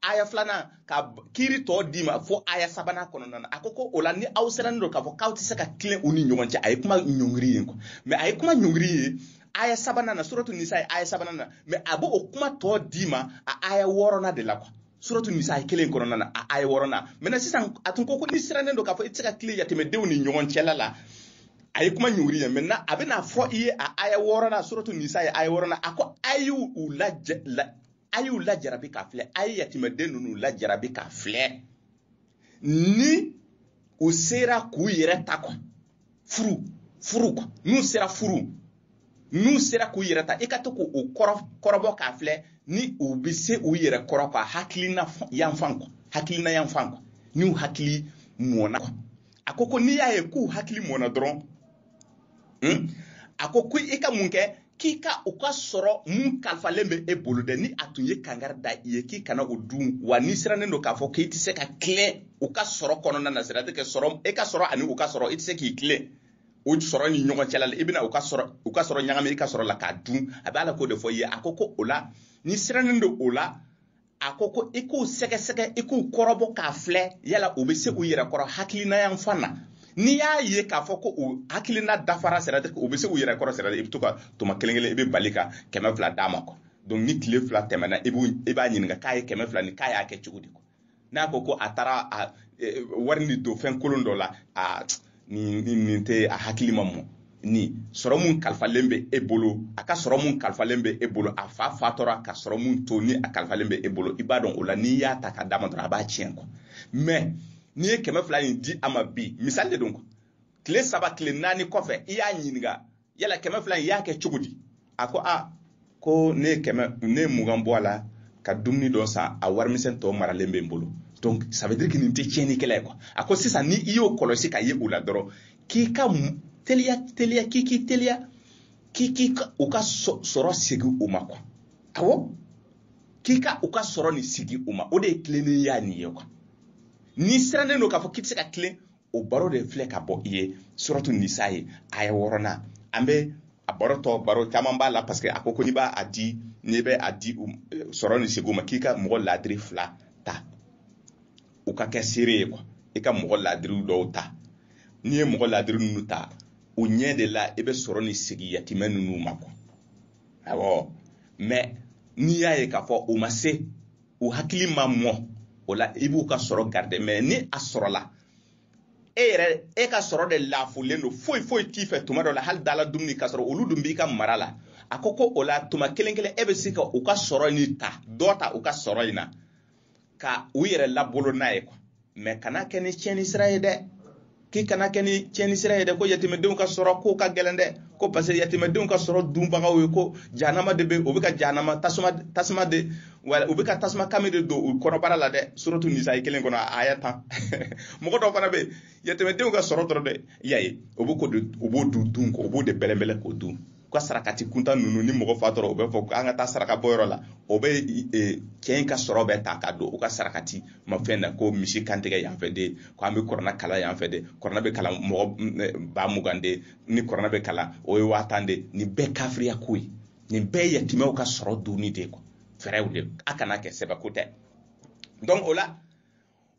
aya filanan ka kiri tɔ d'i ma fo aya sabanan kɔnɔna na a ko ko o la ni aw sirannen don k'a fɔ k'aw tɛ se ka tilen u ni ɲɔgɔn cɛ a ye kuma ɲɔngiri yen quoi mɛ a ye kuma ɲɔngiri yen aya sabanan na suratu nisayi aya sabanan na mɛ a b'o o kuma tɔ d'i ma a aya wɔɔrɔnan de la quoi suratu nisayi kelen kɔnɔna na a aya wɔɔrɔnan mɛ sisan a tun ko ko n'i sirannen don k'a fɔ i tɛ se ka tilen yatimɛdenw ni ɲɔgɔn cɛla la a ye kuma ɲɔngiri yen mɛ na a bɛna fɔ i ye a aya wɔɔrɔnan suratu nisayi aya wɔɔrɔnan a ko a y'u u la a y'u lajarabi k'a filɛ a ye yatimɛden ninnu lajarabi k'a filɛ ni u sera k'u yɛrɛ ta quoi furu furu quoi n'u sera furu n'u sera k'u yɛrɛ ta i ka to k'u kɔrɔbɔ k'a filɛ ni u bɛ se u yɛrɛ kɔrɔ quoi hakilina yanfan quoi hakilina yanfan quoi n'u hakili mɔna quoi a ko ko n'i y'a ye k'u hakili mɔna dɔrɔn hmm, a ko ko i ka mun kɛ k'i ka u ka sɔrɔ mun kalifalen bɛ e bolo dɛ ni a tun ye kangari da i ye k'i kana o dun wa n'i sirannen don k'a fɔ k'i tɛ se ka tilen u ka sɔrɔ kɔnɔna na c'est-à-dire que sɔrɔ e ka sɔrɔ ani u ka sɔrɔ i tɛ se k'i tilen o sɔrɔ ni ɲɔgɔn cɛla la i bɛna u ka sɔrɔ u ka sɔrɔ ɲagami i ka sɔrɔ la k'a dun a b'a la k'o de fɔ i ye a ko ko o la n'i sirannen don o la a ko ko i k'u sɛgɛsɛgɛ i k'u kɔrɔbɔ k'a filɛ yala u bɛ se u yɛrɛ kɔrɔ hakilina yanfan na n'i y'a ye k'a fɔ ko u hakilina dafara c'est-à-dire u bɛ se u yɛrɛ kɔrɔ c'est-à-dire i bɛ to ka tuma kelen kelen i bɛ bali ka kɛmɛ fila d'a ma quoi donc ni tile fila tɛmɛna i b'u i b'a ɲininka k'a ye kɛmɛ fila nin k'a y'a kɛ cogo di quoi n'a ko ko a taara a ye wari nin don fɛn kolon dɔ la a nin nin nin tɛ a hakili ma mɔ ni sɔrɔ mun kalifalen bɛ e bolo a ka sɔrɔ mun kalifalen bɛ e bolo a fa fatura ka sɔrɔ mun to ni a kalifalen bɛ e bolo i b'a dɔn o la n'i y'a ta ka d'a ma dɔrɔn a b'a tiɲɛ quoi mɛ n'i ye kɛmɛ fila in di a ma bi misali de don quoi tile saba tile naani kɔfɛ i y'a ɲininka yala kɛmɛ fila in y'a kɛ cogo di a ko a ko ne ye kɛmɛ ne ye mugan bɔ a la ka dumuni dɔ san a warimisɛn tɔ maralen bɛ n bolo donc ça veut dire que nin tɛ tiɲɛnikɛla ye quoi a ko sisan ni i y'o kɔlɔsi k'a ye u la dɔrɔn k'i ka teliya teliya k'i k'i teliya k'i k'i ka u ka sɔrɔ segin u ma quoi awɔ k'i ka u ka sɔrɔ nin segin u ma o de ye tilennenya nin ye quoi n'i sirannen don k'a fɔ k'i tɛ se ka tilen o baro de filɛ ka bɔ i ye suratu nisayi aya wɔɔrɔnan an bɛ a baro tɔ baro caman b'a la parce que a ko ko n'i b'a a di n'i bɛ a di sɔrɔ nin segin u ma k'i ka mɔgɔ laadiri fila ta u ka kɛ seere ye quoi i ka mɔgɔ laadiriw dɔw ta n'i ye mɔgɔ laadiri ninnu ta u ɲɛ de la i bɛ sɔrɔ nin segin yatimɛ ninnu ma quoi awɔ mɛ n'i y'a ye k'a fɔ u ma se u hakili ma mɔ o la i b'u ka sɔrɔ garde mɛ ni a sɔrɔla e yɛrɛ e ka sɔrɔ de lafulen don foyi foyi t'i fɛ tuma dɔ la hali dala dumuni k'a sɔrɔ olu dun b'i ka mara la a ko ko o la tuma kelen kelen e bɛ se ka u ka sɔrɔ in ta dɔ ta u ka sɔrɔ in na ka u yɛrɛ labalo n'a ye kuwa mɛ kana kɛ ni tiɲɛni sira ye dɛ k'i kana kɛ ni tiɲɛni sira ye dɛ ko yatimɛdenw ka sɔrɔ ko ka gɛlɛn dɛ ko parce que yatimɛdenw ka sɔrɔ dunbagaw ye ko jahanama de bɛ u bɛ ka jahanama tasuma tasuma de wa u bɛ ka tasuma kami de don u kɔnɔbara la dɛ suratu nisayi kelen kɔnɔ aya tan mɔgɔ dɔw fana bɛ yatimɛdenw ka sɔrɔ dɔrɔn de y'a ye u b'o de dun u b'o de bɛlɛnbɛlɛn k'o dun u ka sarakati kuntan ninnu ni mɔgɔ fatura u bɛ fɔ an ka taa saraka bɔ yɔrɔ la o bɛ e, cɛ in ka sɔrɔ bɛɛ ta ka don u ka sarakati ma fɛn na ko misi kan tigɛ yan fɛ de ko an bɛ kuranɛ kalan yan fɛ de kuranɛ bɛ kalan mɔgɔ ba mugan de ni kuranɛ bɛ kalan o ye waa tan de nin bɛɛ kafiriya ko ye nin bɛɛ ye yatimɛw ka sɔrɔ dunni de ye fɛɛrɛw de a kana kɛ sɛbɛko tɛ donc o la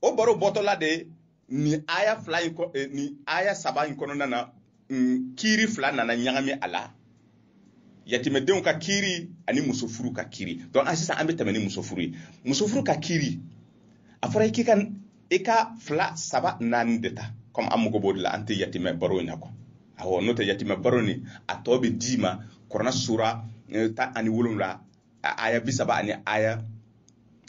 o baro bɔtɔla de ye nin aya fila in eh, nin aya saba in kɔnɔna na mm, kiiri fila nana ɲagami a la yatimɛdenw ka kiiri ani muso furu ka kiiri donc an sisan an bɛ tɛmɛ ni muso furu ye muso furu ka kiiri a fɔra k'i ka i ka fila saba naani de ta comme an mago b'o de la an tɛ yatimɛ baro in na kuwa awɔ n'o tɛ yatimɛ baro nin a tɔ bɛ d'i ma kuranɛ sura eh, tan ani wolonwula a aya bi saba ani aya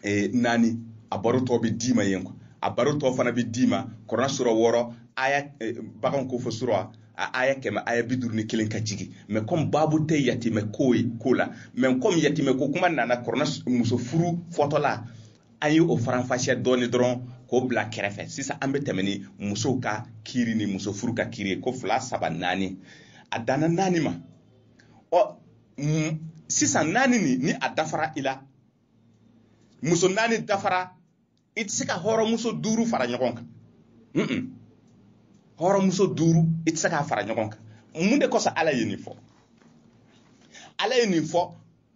e, naani a baro tɔ bɛ d'i ma yen kuwa a baro tɔ fana bɛ d'i ma kuranɛ sura wɔɔrɔ aya e, bagan ko fɔ sura a aya kɛmɛ aya bi duuru ni kelen ka jigin mɛ kɔmi baabu tɛ yatimɛ ko ye ko la mɛ kɔmi yatimɛ ko kuma nana kuranɛ muso furu fɔtɔla an ye o faranfasiya dɔɔni dɔrɔn k'o bila kɛrɛfɛ sisan an bɛ tɛmɛ ni musow ka kiiri ni muso furu ka kiiri ye ko fila saba naani a danna naani ma ɔ sisan naani nin ni a dafara i la muso naani dafara i tɛ se ka hɔrɔnmuso duuru fara ɲɔgɔn kan hɔrɔnmuso duuru i tɛ se k'a fara ɲɔgɔn kan mun de kosɔn ala ye nin fɔ ala ye nin fɔ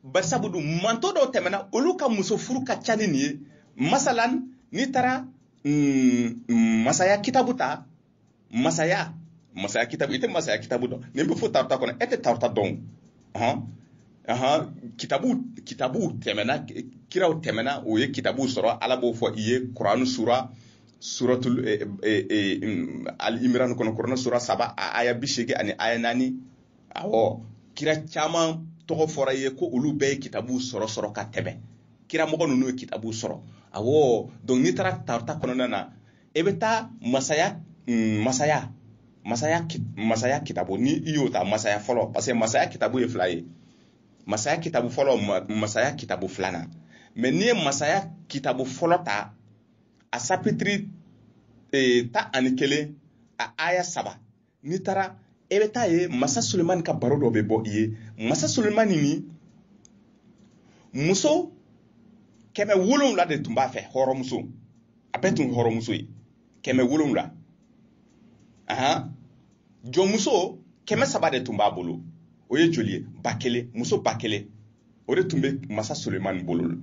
bari sabu dun mantɔn dɔw tɛmɛna olu ka muso furu ka ca ni nin ye masalan n'i taara mm, mm, masaya kitabu ta masaya masaya kitabu i tɛ masaya kitabu dɔn nin bɛ fɔ tawurata kɔnɔ e tɛ tawurata dɔn hɔn ahan kitabu kitabu tɛmɛna kiraw tɛmɛna u ye kitabu sɔrɔ ala b'o fɔ i ye kuranɛ sura suratul eh, eh, eh, mm, al imran kɔnɔ kuranɛ sura saba a aya bi seegin ani aya naani awɔ kira caman tɔgɔ fɔra i ye ko olu bɛɛ ye kitabu sɔrɔ sɔrɔ ka tɛmɛ kira mɔgɔ ninnu ye kitabu sɔrɔ awɔ donc n'i taara tawurata kɔnɔna na e bɛ taa masaya mm, masaya masaya masaya kitabu ni i y'o ta masaya fɔlɔ parce que masaya kitabu ye fila ye masaya kitabu fɔlɔ masaya kitabu filanan mɛ n'i ye masaya kitabu fɔlɔ ta a sapitiri eh, tan ani kelen a aya saba n'i taara e bɛ taa ye masa sulemani ka baro dɔ bɛ bɔ i ye masa sulemani nin muso kɛmɛ wolonwula de tun b'a fɛ hɔrɔnmuso a bɛɛ tun hɔrɔnmuso ye kɛmɛ wolonwula ahan jɔnmuso kɛmɛ saba de tun b'a bolo o ye joli ye ba kelen muso ba kelen o de tun bɛ masa sulemani bolo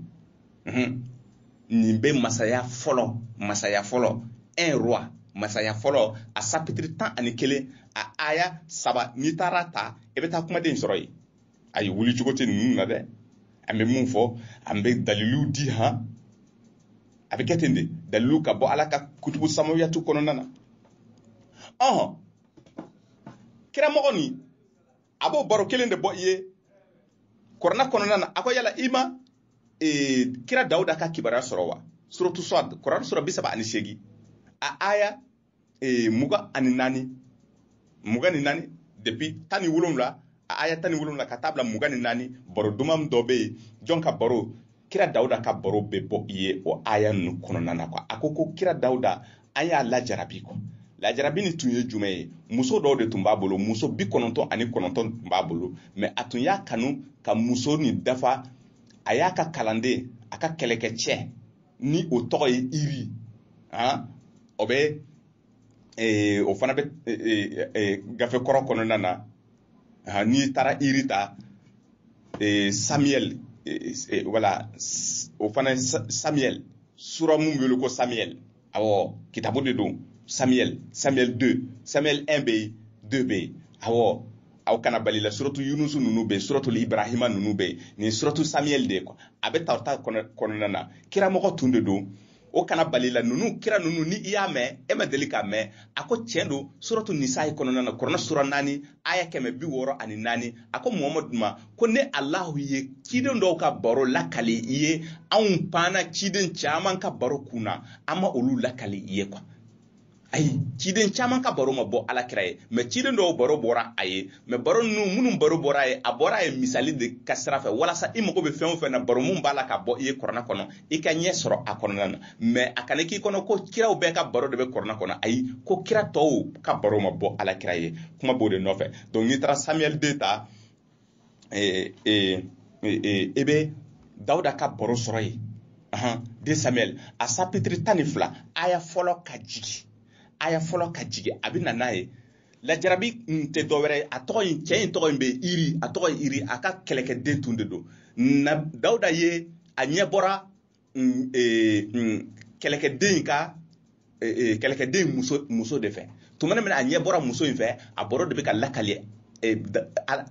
nin bɛ masaya fɔlɔ masaya fɔlɔ un roi masaya fɔlɔ a sapitiri tan ani kelen a aya saba n'i taara ta i bɛ taa kumaden sɔrɔ yen ayi wuli cogo tɛ ninnu na dɛ an bɛ min fɔ an bɛ dalilu di han a bɛ kɛ ten de dalilu ka bɔ ala ka kutubu samawiyatu kɔnɔna na ɔhɔn kira mɔgɔ nin a b'o baro kelen de bɔ i ye kɔrɔna kɔnɔna na a ko yala i ma e, kira dawuda ka kibaruya sɔrɔ wa suratu swad kɔrɔna sura bi saba ani seegin a aya e, mugan ani naani mugan ni naani depuis tan ni wolonwula a aya tan ni wolonwula ka taa bila mugan ni naani baro duman dɔ bɛ yen jɔn ka baro kira dawuda ka baro bɛ bɔ i ye o aya ninnu kɔnɔna na a ko ko kira dawuda an y'a lajarabi ko lajarabi nin tun ye jumɛn ye muso dɔw de tun b'a bolo muso bi kɔnɔntɔn ani kɔnɔntɔn tun b'a bolo mɛ a tun y'a kanu ka muso nin dafa a y'a ka kalanden a ka kɛlɛkɛcɛ nin o tɔgɔ ye iri o bɛ o fana bɛ gafe kɔrɔ kɔnɔna na n'i taara iri ta samiyɛli wala o fana samiyɛli sura min bɛ wele ko samiyɛli awɔ kitabu de don samiyɛli samiyɛli deux samiyɛli un bɛ yen deux bɛ yen awɔ aw kana bali la suratu yunusu ninnu bɛ yen suratu ibrahima ninnu bɛ yen nin suratu samiyɛli de ye a bɛ tawurata kɔnɔna na kiramɔgɔ tun de don o kana bali i la ninnu kira ninnu ni i y'a mɛn e ma deli k'a mɛn a ko tiɲɛ don suratu nisayi kɔnɔna na kɔrɔna sura naani aya kɛmɛ bi wɔɔrɔ ani naani a ko muhamadu ma ko ne alahu ye ciden dɔw ka baro lakali i ye anw panna ciden caman ka baro kun na an ma olu lakali i ye ko ayi ciden caman ka baro ma bɔ ala kira ye mɛ ciden dɔw baro bɔra a ye mɛ baro ninnu minnu baro bɔra a ye a bɔra a ye misali de ka sira fɛ walasa i mago bɛ fɛn o fɛn na baro min b'a la ka bɔ i ye kɔrɔna kɔnɔ i ka ɲɛ sɔrɔ a kɔnɔna na mɛ a kana k'i kɔnɔ ko kiraw bɛɛ ka baro de bɛ kɔrɔna kɔnɔ ayi ko kira tɔw ka baro ma bɔ ala kira ye kuma b'o de nɔfɛ donc n'i taara samuel deux ta e e e e bɛ dawuda ka baro sɔrɔ yen ahan deux samuel a sapitiri tan ni fila aya fɔlɔ ka jigi aya fɔlɔ ka jigi a bɛ na n'a ye lajarabi in tɛ dɔwɛrɛ ye a tɔgɔ in cɛ in tɔgɔ in bɛ iri a tɔgɔ ye iri a ka kɛlɛkɛden tun de don na dawuda ye a ɲɛ bɔra kɛlɛkɛden in ka kɛlɛkɛden in muso muso de fɛ tuma min a ɲɛ bɔra muso in fɛ a baro de bɛ ka lakali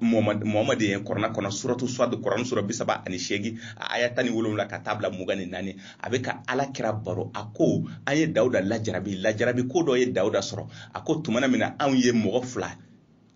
mohamed ye kurana kɔnɔ suratu suwadu kurana sura bi saba ani seegin a aya tan ni wolonwula ka taa bila mugan ni naani a bɛ ka ala kira baro a ko an ye dawuda lajarabi lajarabi ko dɔ ye dawuda sɔrɔ a ko tuma min na anw ye mɔgɔ fila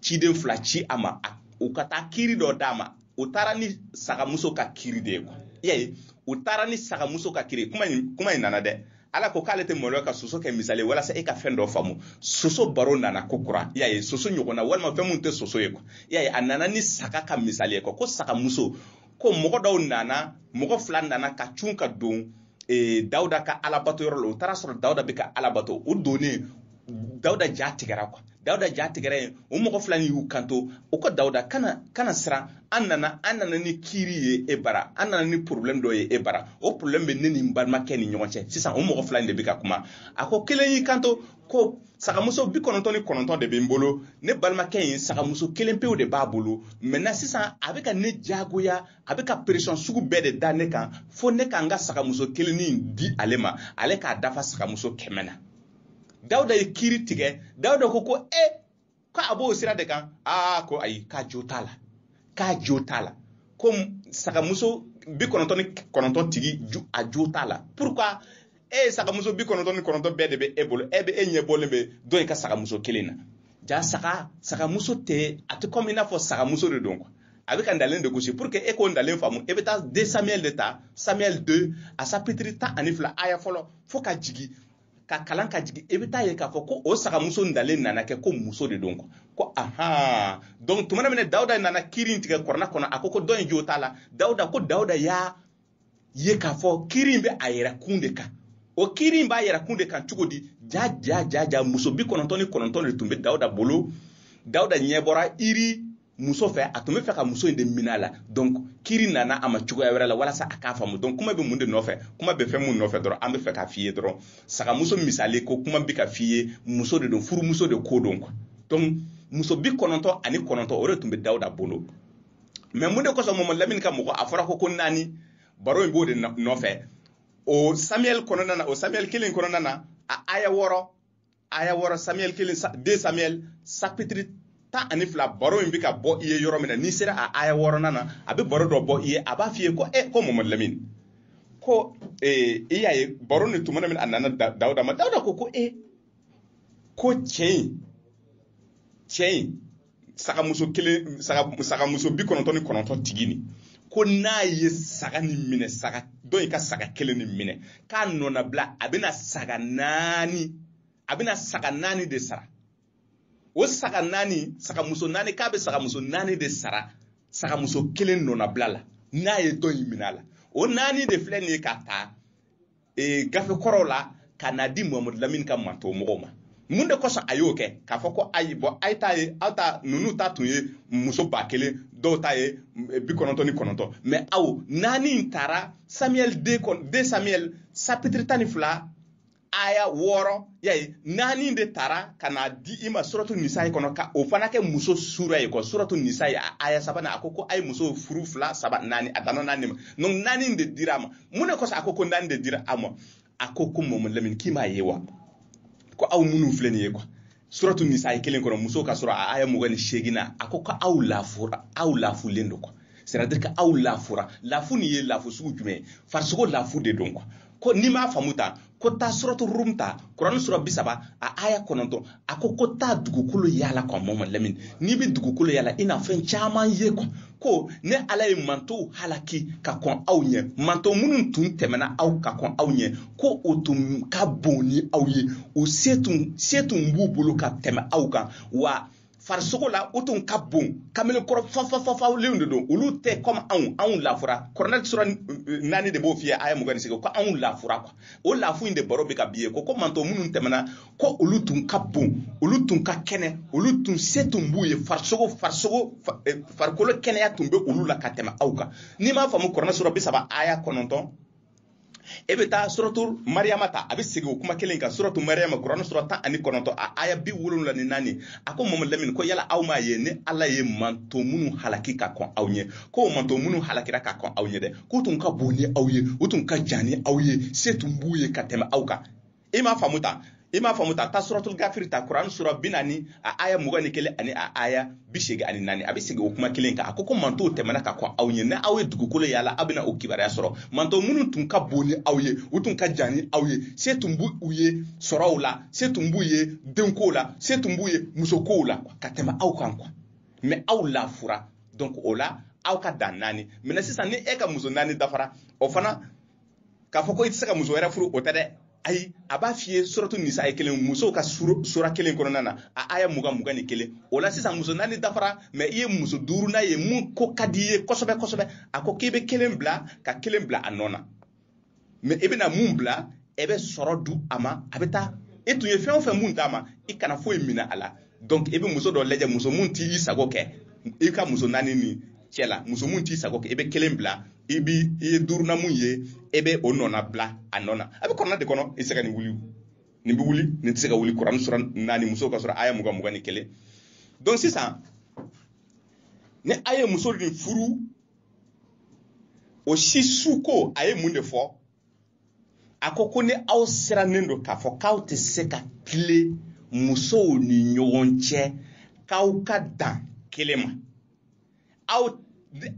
ciden fila ci a ma u ka taa kiri dɔ d'a ma u taara ni sagamuso ka kiri de ye quoi y'a ye u taara ni sagamuso ka kiri kuma in kuma in nana dɛ ala ko k'ale tɛ maloya ka soso kɛ misali walasa e ka fɛn dɔ faamu soso baro nana ko kura y'a ye soso ɲɔgɔnna walima fɛn minnu tɛ soso ye quoi y'a ye a nana ni saga ka misali ye quoi ko sagamuso ko mɔgɔ dɔw nana mɔgɔ fila nana ka cun ka don ee, dawuda ka alabato yɔrɔ la u taara a sɔrɔ dawuda bɛ ka ala bato u donnen dawuda ja tigɛra quoi dawuda ja tigɛra yen o mɔgɔ fila nin y'u kanto u ko dawuda kana kana siran an nana an nana ni kiiri ye e bara an nana ni problème dɔ ye e bara o problème bɛ ne ni n balimakɛ ni ɲɔgɔn cɛ sisan o mɔgɔ fila in de bɛ ka kuma a ko kelen y'i kanto ko sagamuso bi kɔnɔntɔn ni kɔnɔntɔn de bɛ n bolo ne balimakɛ in sagamuso kelen pewu de b'a bolo maintenant sisan a bɛ ka ne jagoya a bɛ ka pression sugu bɛɛ de da ne kan fo ne ka n ka sagamuso kelennin di ale ma ale k'a dafa sagamuso kɛmɛ na dawuda ye kiri tigɛ dawuda ko ko e ko a b'o sira de kan aa ko ayi k'a jo t'a la k'a jo t'a la ko sagamuso bi kɔnɔntɔn ni kɔnɔntɔn tigi a jo t'a la pourquoi e ye sagamuso bi kɔnɔntɔn ni kɔnɔntɔn bɛɛ de bɛ e bolo e bɛ e ɲɛ bɔlen bɛ dɔ in ka sagamuso kelen na jaa saga sagamuso tɛ a tɛ kɔmi i n'a fɔ sagamuso de don quoi a bɛ ka ntalen de gosi pour que e k'o ntalen faamu e bɛ taa deux samuel de ta samuel deux a sapitiri tan ani fila aya fɔlɔ fo ka jigin ka kalan ka jigin e bɛ taa a ye k'a fɔ ko o sagamuso ntalen nana kɛ ko muso de don quoi ko ahan donc tuma min na dawuda nana kiiri in tigɛ kurana kɔnɔ a ko ko dɔ in jo t'a la dawuda ko dawuda y'a ye k'a fɔ kiri in bɛ a yɛrɛ kun de kan o kiri in b'a yɛrɛ kun de kan cogo di jaa jaa jaa jaa muso bi kɔnɔntɔn ni kɔnɔntɔn de tun bɛ dawuda bolo dawuda ɲɛ bɔra iri muso fɛ a tun bɛ fɛ ka muso in de minɛ a la donc kiri nana a ma cogoya wɛrɛ la walasa a k'a faamu donc kuma bɛ mun de nɔfɛ kuma bɛ fɛn mun nɔfɛ dɔrɔn an bɛ fɛ k'a f'i ye dɔrɔn sagamuso misali ko kuma bɛ ka f'i ye muso de don furumuso de ko don quoi donc muso bi kɔnɔntɔn ani kɔnɔntɔn o de tun bɛ dawuda bolo mais mun de kosɔn mɔmɔ lamini ka mɔgɔ a fɔra ko ko naani baro in b'o de nɔfɛ o samuel kɔnɔna na o samuel kelen kɔnɔna na a aya wɔɔrɔ aya wɔɔrɔ samuel kelen deux samuel sapitiri tan ani fila baro in bɛ ka bɔ i ye yɔrɔ min na n'i sera a aya wɔɔrɔnan na a bɛ baro dɔ bɔ i ye a b'a f'i ye ko e ko mɔmɔ lamini ko eh, i y'a ye baro ni tuma min a nana dawuda ma dawuda ko ko e ko cɛ in cɛ in sagamuso kelen saga sagamuso bi kɔnɔntɔn ni kɔnɔntɔn tigi nin ko n'a ye saga ni minɛ saga dɔ in ka saga kelen ni minɛ k'a nɔnabila a bɛna saga naani a bɛna saga naani de sara o saga naani sagamuso naani k'a bɛ sagamuso naani de sara sagamuso kelen nɔnabila la n'a ye dɔ in minɛ a la o naani de filɛ nin ye k'a ta ee gafe kɔrɔw la ka na di muhamadu lamini ka manto mɔgɔw ma mun de kosɔn a y'o kɛ k'a fɔ ko ayi bɔn a ye ta ye aw ta ninnu ta tun ye muso ba kelen dɔw ta ye eh, bi kɔnɔntɔn ni kɔnɔntɔn mais aw naani in tara samiyɛli de kɔnɔ deux samiyɛli sapitiri tan ni fila aya wɔɔrɔ yayi naani de tara ka na di i ma suratu nisayi kɔnɔ ka o fana kɛ muso sura ye quoi suratu nisayi a aya sabanan a ko ko a ye muso furu fila saba naani a danna naani ma donc naani de dira a ma mun ne kosɔn a ko ko naani de dira a ma a ko ko mɔmɔ lamini k'i m'a ye wa ko aw minnu filɛ nin ye quoi suratu nisayi kelen kɔnɔ muso ka sura a aya mugan ni seegin na a ko ko aw lafura aw lafulen don quoi c'est-à-dire que aw lafura lafu nin ye lafu sugu jumɛn ye farisogo lafu de don quoi ko n'i m'a faamu taa ko taa suratu rum ta kurani sura bi saba a aya kɔnɔntɔn a ko ko taa dugukolo yaala quoi mɔmɔ lamini n'i bɛ dugukolo yaala i na fɛn caman ye quoi ko ne ala ye mantow halaki ka kɔn aw ɲɛ manto minnu tun tɛmɛna aw ka kɔn aw ɲɛ ko o tun ka bon ni aw ye o se tun se tun b'u bolo ka tɛmɛ aw kan wa farisogo la o tun ka bon kamele kɔrɔ fafafafalenw de don olu tɛ kɔmi anw anw lafura kuranɛ sura naani de b'o f'i ye aya mugan ni seegin ko anw lafura quoi o lafu in de baro bɛ ka b'i ye ko ko manto minnu tɛmɛna ko olu tun ka bon olu tun ka kɛnɛ olu tun se tun b'u ye farisogo farisogo eh, farikolo kɛnɛya tun bɛ olu la ka tɛmɛ aw kan n'i m'a faamu kuranɛ sura bi saba aya kɔnɔntɔn i bɛ taa suratu mariyama ta a bɛ segin o kuma kelen kan suratu mariyama kurani sura tan ani kɔnɔntɔn a aya bi wolonwula ni naani a ko mamadu lamini ko yala aw m'a ye ne ala ye manto minnu halaki ka kɔn aw ɲɛ ko manto minnu halakira ka kɔn aw ɲɛ dɛ k'u tun ka bon ni aw ye u tun ka jan ni aw ye se tun b'u ye ka tɛmɛ aw kan i m'a faamu ta i m'a faamu ta taa suratul gafiri ta kuran sura bi naani a aya mugan ni kelen ani a aya bi seegin ani naani a bɛ segin o kuma kelen kan a ko ko mantɔnw tɛmɛna ka kɔn aw ɲɛ ni aw ye dugukolo yala aw bɛna o kibaruya sɔrɔ mantɔn minnu tun ka bon ni aw ye u tun ka jan ni aw ye se tun b'u ye sɔrɔw la se tun b'u ye denkow la se tun b'u ye musokow la ka tɛmɛ aw kan kuwa mɛ aw lafura donc o la aw ka dan naani mɛ sisan ni e ka muso naani dafara o fana k'a fɔ ko i tɛ se ka muso wɛrɛ furu o tɛ dɛ ayi a b'a f'i ye suratu nisayi kelen musow ka sura kelen kɔnɔna na a aya mugan mugan ni kelen o la sisan muso naani dafara mɛ i ye muso duurunan ye mun ko ka di i ye kosɛbɛ kosɛbɛ a ko k'i bɛ kelen bila ka kelen bila a nɔ na mɛ i bɛna mun bila e bɛ sira di a ma a bɛ taa e tun ye fɛn o fɛn mun d'a ma i kana foyi minɛ a la donc i bɛ muso dɔ lajɛ muso mun t'i sago kɛ i ka muso naani nin cɛ la muso mun t'i sago kɛ i bɛ kelen bila i bi i ye duurunan mun ye e bɛ o nɔna bila a nɔ na a bɛ kurana de kɔnɔ i tɛ se ka nin wuli nin bɛ wuli nin tɛ se ka wuli kuran sura naani musow ka sura aya mugan mugan ni kelen donc sisan ni aw ye muso nin furu o si su ko a ye mun de fɔ a ko ko ni aw sirannen don k'a fɔ k'aw tɛ se ka tilen musow ni ɲɔgɔn cɛ k'aw ka dan kelen ma aw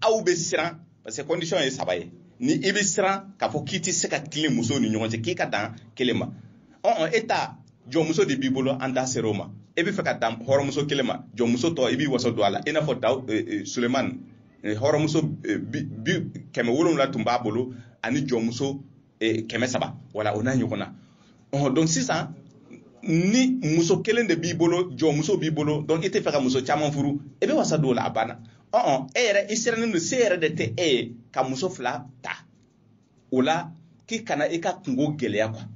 aw bɛ siran parce que condition ye saba ye ni i bɛ siran k'a fɔ k'i tɛ se ka tilen musow ni ɲɔgɔn cɛ k'i ka dan kelen ma ɔn e ta jɔnmuso de b'i bolo an da ser'o ma e bɛ fɛ ka dan hɔrɔnmuso kelen ma jɔnmuso tɔ i b'i wasa don a la i n'a fɔ daw eh, eh, sulemani eh, hɔrɔnmuso kɛmɛ wolonwula tun b'a bolo ani jɔnmuso e, kɛmɛ saba wala o n'a ɲɔgɔnna ɔhɔn donc sisan ni muso kelen de b'i bolo jɔnmuso b'i bolo donc i tɛ fɛ ka muso caman furu e bɛ wasa don o la a banna ɔn e yɛrɛ i sirannen don se yɛrɛ de tɛ e ye ka muso fila ta o la k'i kana i ka kunko gɛlɛya kuwa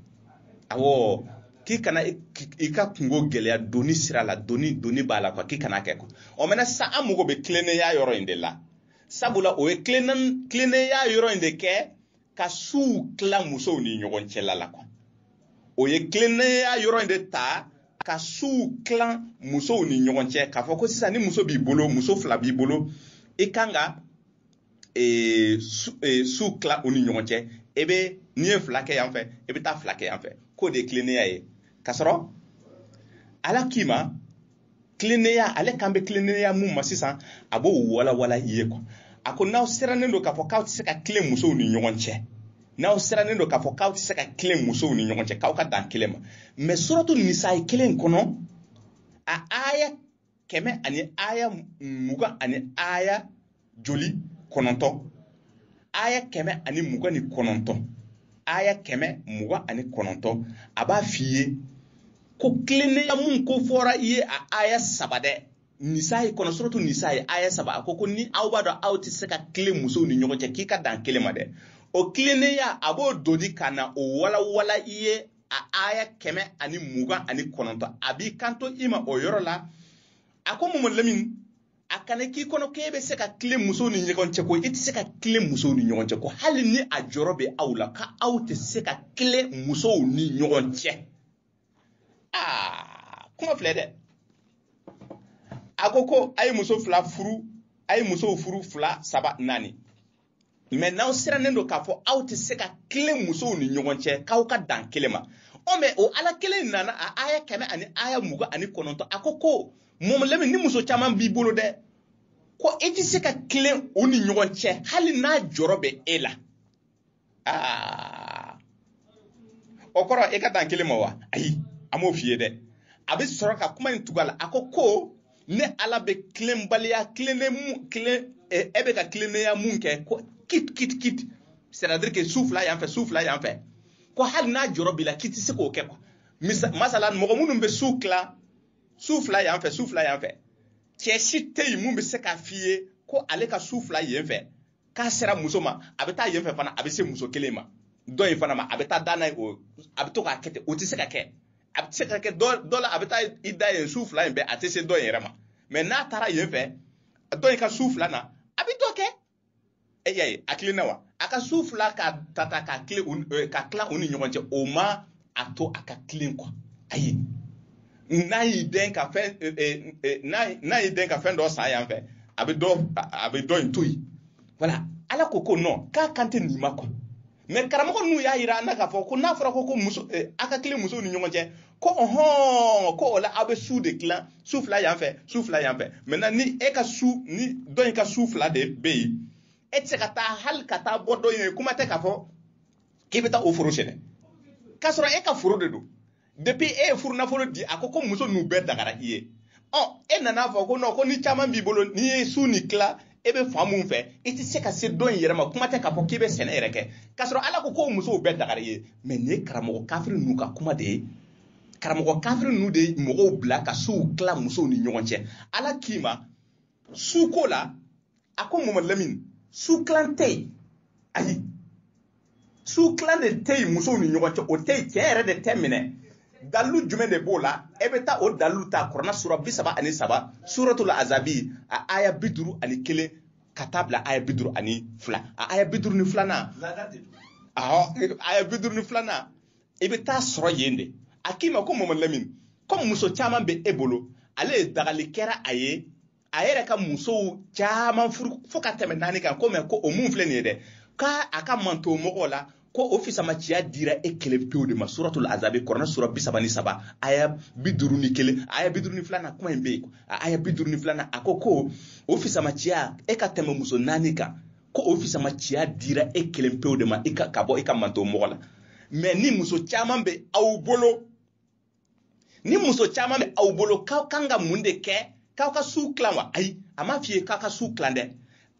awɔ k'i kana i ka kunko gɛlɛya doni sira la doni doni b'a la kuwa k'i kana kɛ kuwa ɔ mɛna sisan an mago bɛ tilennenya yɔrɔ in de la sabula o ye tilennenya yɔrɔ in de kɛ ka suw tila musow ni ɲɔgɔn cɛla la kuwa o ye tilennenya yɔrɔ in de ta ka suw tila musow ni ɲɔgɔn cɛ k'a fɔ ko sisan ni muso b'i bolo muso fila b'i bolo i kan ka e, su e, tila u ni ɲɔgɔn cɛ e bɛ n'i ye fila kɛ yan fɛ e bɛ taa fila kɛ yan fɛ k'o de ye tilennenya ye k'a sɔrɔ ala k'i ma tilennenya ale kan bɛ tilennenya mun ma sisan a b'o walawala i ye kuwa a ko n'aw sirannen don k'a fɔ k'aw tɛ se ka tilen musow ni ɲɔgɔn cɛ n'aw sirannen don k'a fɔ k'aw tɛ se ka tilen musow ni ɲɔgɔn cɛ k'aw ka dan kelen ma mɛ suratu nisayi kelen kɔnɔ a aya kɛmɛ ani aya mugan ani aya joli kɔnɔntɔ aya kɛmɛ ani mugan ni kɔnɔntɔ aya kɛmɛ mugan ani kɔnɔntɔ a b'a f'i ye ko tilennenya mun ko fɔra i ye a aya saba dɛ nisayi kɔnɔ suratu nisayi aya saba a ko ko ni aw b'a dɔn aw tɛ se ka tilen musow ni ɲɔgɔn cɛ k'i ka dan kelen ma dɛ o tilennenya a b'o doni ka na o walawala i ye a aya kɛmɛ ani mugan ani kɔnɔntɔ a b'i kanto i ma o yɔrɔ la a ko mɔmɔ lamin a kana k'i kɔnɔ k'e bɛ se ka tilen musow ni ɲɔgɔn cɛ ko i tɛ se ka tilen musow ni ɲɔgɔn cɛ ko hali ni a jɔrɔ bɛ aw la ka aw tɛ se ka tilen musow ni ɲɔgɔn cɛ aa kuma filɛ dɛ a ko ko a ye muso fila furu a ye musow furu fila saba naani mais n'aw sirannen don k'a fɔ aw tɛ se ka tilen musow ni ɲɔgɔn cɛ k'aw ka dan kelen ma ɔ mais o ala kelen nana a aya kɛmɛ ani aya mugan ani kɔnɔntɔn a ko ko mɔmɔ lamin ni muso caman b'i bolo dɛ ko i tɛ se ka tilen u ni ɲɔgɔn cɛ hali n'a jɔrɔ bɛ e la aa o kɔrɔ e ka dan kelen ma wa ayi a m'o f'i ye dɛ a bɛ sɔrɔ ka kuma in tugu a la a ko ko ne ala bɛ tilenbaliya tilennen mun tilen e eh, bɛ ka tilennenya mun kɛ ko kit kit kit c'est à dire que su fila yan fɛ su fila yan fɛ ko hali n'a jɔrɔ b'i la k'i tɛ se k'o kɛ quoi misa masala mɔgɔ minnu bɛ su tila su fila yan fɛ su fila yan fɛ cɛ si tɛ yen mun bɛ se k'a f'i ye ko ale ka su fila yen fɛ k'a sera muso ma a bɛ taa yen fɛ fana a bɛ se muso kelen ma dɔ in fana ma a bɛ taa da n'a ye o a bɛ to k'a kɛ ten o tɛ se ka kɛ a bɛ se ka kɛ dɔ la a bɛ taa i da yen su fila in bɛɛ a tɛ se dɔ in yɛrɛ ma mais n'a taara yen fɛ dɔ in ka su fila na a bɛ dɔ kɛ e y'a ye a tilenna wa a ka su fila ka ta ta ka tila u ni ɲɔgɔn cɛ o ma a to a ka tilen quoi ayi n'a y'i den ka fɛn eh, eh, eh, n'a y'i den ka fɛn dɔ san yan fɛ a bɛ dɔ a bɛ dɔ in to yen voilà ala ko ko non k'a kan tɛ nin ma quoi mais karamɔgɔ ninnu y'a yira an na k'a fɔ ko n'a fɔra ko ko muso eh, a ka tilen musow ni ɲɔgɔn cɛ ko ɔhɔn ko o la aw bɛ su de tila su fila yan fɛ su fila yan fɛ maintenant ni e ka su ni dɔ in ka su fila de bɛ yen e tɛ se ka taa hali ka taa bɔ dɔ in ye kuma tɛ k'a fɔ k'i bɛ taa o foro sɛnɛ k'a sɔrɔ e ka foro de don depuis e ye furu nafolo di a ko ko muso ninnu bɛɛ dagara i ye ɔ e nana a fɔ ko non ko ni caman b'i bolo n'i ye su nin tila e bɛ fan mun fɛ i tɛ se ka se dɔ in yɛrɛ ma kuma tɛ k'a fɔ k'i bɛ sɛnɛ yɛrɛ kɛ k'a sɔrɔ ala ko ko musow bɛɛ dagara i ye mais nin ye karamɔgɔ kafiri ninnu ka kuma de ye karamɔgɔ kafiri ninnu de ye mɔgɔw bila ka suw tila musow ni ɲɔgɔn cɛ ala k'i ma su ko la a ko mama lamini su kilan tɛ yen ayi su kilan de tɛ yen musow ni ɲɔgɔn cɛ o tɛ yen cɛ yɛrɛ de tɛ minɛ dalilu jumɛn de b'o la e bɛ taa o dalilu ta kurana sura bi saba ani saba suratul azabi a aya bi duuru ani kelen ka taa bila aya bi duuru ani fila a aya bi duuru ni filanan aya bi duuru ni filanan i bɛ t'a sɔrɔ yen de a k'i ma ko mama lamini komi muso caman bɛ e bolo ale ye dagali kɛra a ye a yɛrɛ ka musow caman furu fo ka tɛmɛ naani kan ko mɛ ko o mun filɛ nin ye dɛ k'a a ka manton mɔgɔw la ko o fisamaciya dira e kelen pewu de ma suratul azabi kurana sura bi saba ni saba aya bi duuru ni kelen aya bi duuru ni filanan kuma in bɛ yen aya bi duuru ni filanan a ko ko o fisamaciya e ka tɛmɛ muso naani kan ko o fisamaciya dira e kelen pewu de ma ka bɔ i ka manton mɔgɔw la mɛ ni muso caman bɛ aw bolo ni muso caman bɛ aw bolo k'aw kan ka mun de kɛ k'aw ka su tilan wa ayi a ma f'i ye k'aw ka su tilan dɛ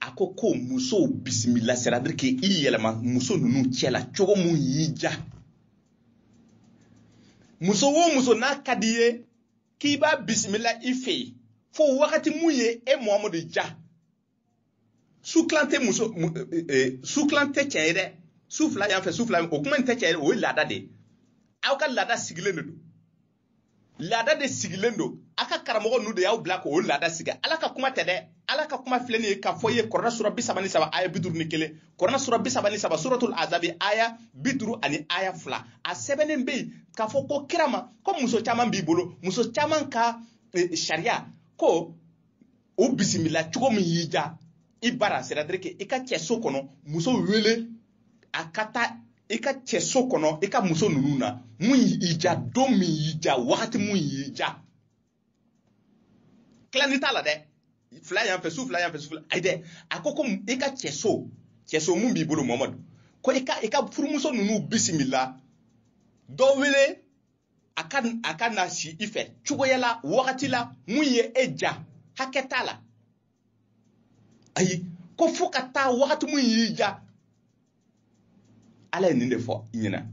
a ko ko musow bisimila c'est-à-dire k'i yɛlɛma muso ninnu cɛ la cogo mun y'i ja muso o muso n'a ka di ye k'i b'a bisimila i fɛ yen fo wagati mun ye e muhamadu ja su kilan tɛ muso eh, eh, su kilan tɛ cɛ ye dɛ su fila yan fɛ su fila o kuma in tɛ cɛ ye o ye laada de ye aw ka laada sigilen de don laada de sigilen don aw ka karamɔgɔ ninnu de y'aw bila k'o laada sigi ala ka kuma tɛ dɛ ala ka kuma filɛ nin ye k'a f'i ye kurana sura bi saba ni saba aya bi duuru ni kelen kurana sura bi saba ni saba suratul azabi aya bi duuru ani aya fila a sɛbɛnnen bɛ yen k'a fɔ ko kira ma ko muso caman b'i bolo muso caman ka eh, sariya ko o bisimila cogo min y'i ja i bara c'est-à-dire que i ka cɛso kɔnɔ muso wele a ka taa i ka cɛso kɔnɔ i ka muso ninnu na mun y'i ja don min y'i ja wagati mun y'i ja tilani t'a la dɛ fila yan fɛ su fila yan fɛ su fila ayi dɛ a ko ko i ka cɛso cɛso mun b'i bolo mamadu ko i ka i ka furumuso ninnu bisimila dɔ wele a ka a ka na si i fɛ cogoya la wagati la mun ye e ja hakɛ t'a la ayi ko fo ka taa wagati mun y'i ja ala ye nin de fɔ i ɲɛ na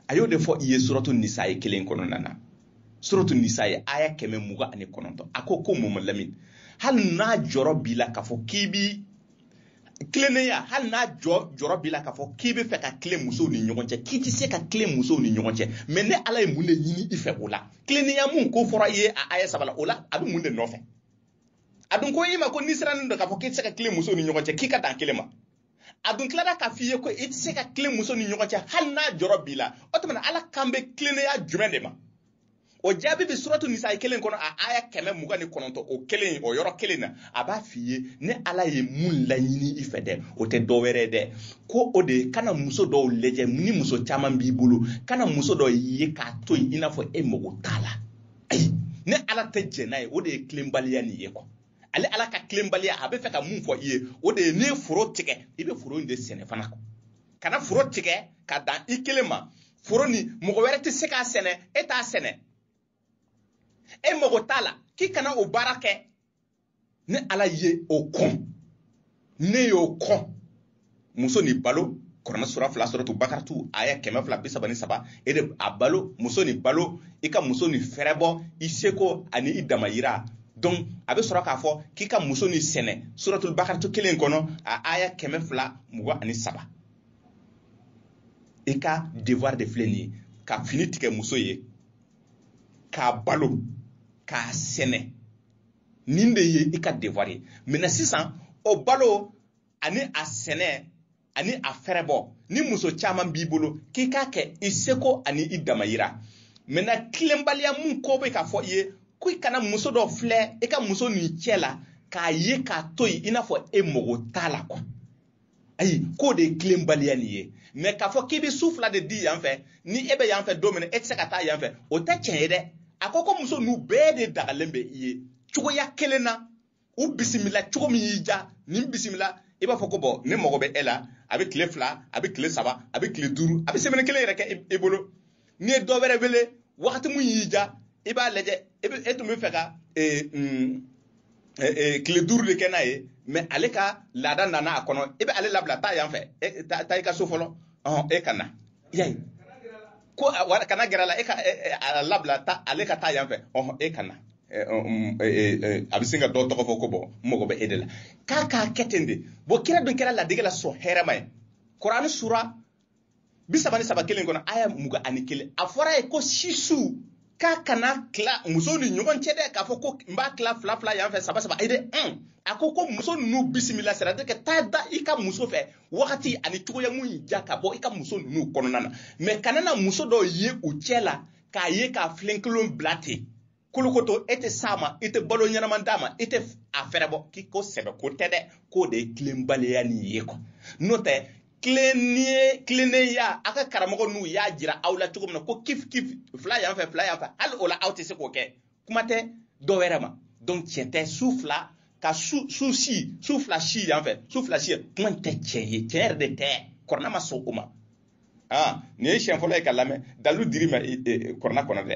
a y'o de fɔ i ye suratu nisayi kelen kɔnɔna na suratu nisayi aya kɛmɛ mugan ani kɔnɔntɔn a ko ko mama lamini hali n'a jɔrɔ b'i la k'a fɔ k'i bi tilennenya hali n'a jɔ jɔrɔ b'i la k'a fɔ k'i b'a fɛ ka tilen musow ni ɲɔgɔn cɛ k'i tɛ se ka tilen musow ni ɲɔgɔn cɛ mɛ ne ala ye mun de ɲini i fɛ o la tilennenya mun ko fɔra i ye a aya saba la o la a bɛ mun de nɔfɛ a dun ko i ma ko n'i sirannen don k'a fɔ k'i tɛ se ka tilen musow ni ɲɔgɔn cɛ k'i ka dan kelen ma a dun tilara k'a f'i ye ko i tɛ se ka tilen musow ni ɲɔgɔn cɛ hali n'a jɔrɔ b'i la o tuma na ala kan bɛ tilennenya jumɛn de ma o jaabi bɛ suratu nisa kelen kɔnɔ a aya kɛmɛ mugan ni kɔnɔntɔn o kelen o yɔrɔ kelen na a b'a f'i ye ne ala ye mun laɲini i fɛ dɛ o tɛ dɔ wɛrɛ dɛ ko o de ye kana muso dɔw lajɛ ni muso caman b'i bolo kana muso dɔ ye k'a to yen i n'a fɔ e mago t'a la ayi ne ala tɛ jɛn n'a ye o de ye tilenbaliya nin ye kɔ ale ala ka tilenbaliya a bɛ fɛ ka mun fɔ i ye o de ye n'i foro tigɛ i bɛ foro in de sɛnɛ fana kana foro tigɛ ka dan i kelen ma foro nin mɔgɔ wɛrɛ tɛ se k'a sɛnɛ e t'a sɛnɛ e mago t'a la k'i kana o baara kɛ ne ala ye o kɔn ne y'o kɔn muso nin balo kuranɛ sura fila suratul bakaratu aya kɛmɛ fila bi saba ni saba e de b'a balo muso nin balo i ka muso nin fɛrɛbɔ i seko ani i damayira donc a bɛ sɔrɔ k'a fɔ k'i ka muso nin sɛnɛ suratul bakaratu kelen kɔnɔ a aya kɛmɛ fila mugan ani saba i ka devoir de filɛ nin ye ka fini tigɛ muso ye k'a balo k'a sɛnɛ nin de ye i ka devoir ye mɛ sisan o balo ani a sɛnɛ ani a fɛrɛbɔ ni muso caman b'i bolo k'i k'a kɛ i seko ani i damayira mɛ na tilenbaliya min ko bɛ k'a fɔ i ye ko i kana muso dɔ filɛ i ka muso nin cɛ la k'a ye k'a to yen i n'a fɔ e mago t'a la kuwa ayi k'o de ye tilenbaliya nin ye mɛ k'a fɔ k'i bɛ su fila de di yan fɛ ni e bɛ yan fɛ don min na e tɛ se ka taa yan fɛ o tɛ tiɲɛ ye dɛ a ko ko muso ninnu bɛɛ de dagalen bɛ i ye cogoya kelen na u bisimila cogo min y'i ja nin bisimila i b'a fɔ ko bɔn ne mago bɛ e la a bɛ tile fila a bɛ tile saba a bɛ tile duuru a bɛ semɛni kelen yɛrɛ kɛ i bolo n'i ye dɔ wɛrɛ wele wagati mun y'i ja i b'a lajɛ e bɛ e tun bɛ fɛ ka tile duuru de kɛ n'a ye mɛ ale ka laada nana a kan i bɛ ale labila taa yan fɛ taa i ka so fɔlɔ e ka na yan ko wala kana gɛrɛ la e ka a labila ta ale ka taa yan fɛ ɔhɔn e ka na a bɛ sin ka dɔ tɔgɔ fɔ ko bɔ n mago bɛ e de la k'a k'a kɛ ten de bɔn kira dun kɛra ladege la sɔn hɛrɛma ye kuranɛ sura bi saba ni saba kelen kɔnɔ aya mugan ani kelen a fɔra yen ko sisu k'a kana tila muso ni ɲɔgɔn cɛ dɛ k'a fɔ ko n b'a tila fila fila yan fɛ saba saba ayi dɛ un a ko ko muso ninnu bisimila c'est-à-dire k'e taa da i ka muso fɛ wagati ani cogoya mun y'i ja ka bɔ i ka muso ninnu kɔnɔna na mɛ kana na muso dɔ ye u cɛ la k'a ye k'a filenkolon bila ten kolokoto e tɛ s'a ma i tɛ balo ɲɛnama d'a ma i tɛ a fɛɛrɛbɔ k'i ko sɛbɛ ko tɛ dɛ k'o de ye tilenbaliya ni ye kɔ n'o tɛ tilennenya tilennenya a ka karamɔgɔ ninnu y'a jira aw la cogo min na ko kif kif fila yan fɛ fila yan fɛ hali o la aw tɛ se k'o kɛ kuma tɛ dɔ wɛrɛ ma donc tiɲɛ tɛ su fila ka su su si su fila si yan fɛ su fila si kuma in tɛ tiɲɛ ye tiɲɛ yɛrɛ de tɛ kurana ma sɔn o ma aa nin ye siɲɛ fɔlɔ ye k'a lamɛn dalilu dir'i ma kurana kɔnɔ dɛ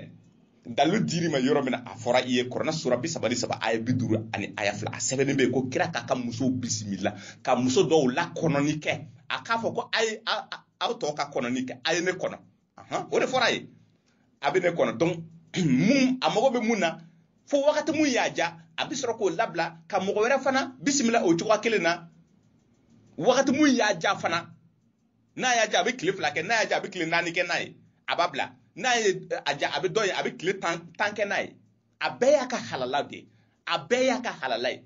dalilu dir'i ma yɔrɔ min na a fɔra i ye kurana sura bi saba ni saba aya bi duuru ani aya fila a sɛbɛnnen bɛ ko kira k'a ka musow bisimila ka muso dɔw la kɔnɔni kɛ a k'a fɔ ko a ye aw tɔw ka kɔnɔni kɛ a ye ne kɔnɔ o de fɔra a ye a bɛ ne kɔnɔ don mun a mago bɛ mun na fo wagati mun y'a ja a bɛ sɔrɔ k'o labila ka mɔgɔ wɛrɛ fana bisimila o cogoya kelen na wagati mun y'a ja fana n'a y'a ja a bɛ tile fila kɛ n'a y'a ja a bɛ tile naani kɛ n'a ye a b'a bila n'a ye a ja a bɛ dɔ ye a bɛ tile tan tan kɛ n'a ye a bɛɛ y'a ka halala de ye a bɛɛ y'a ka halala ye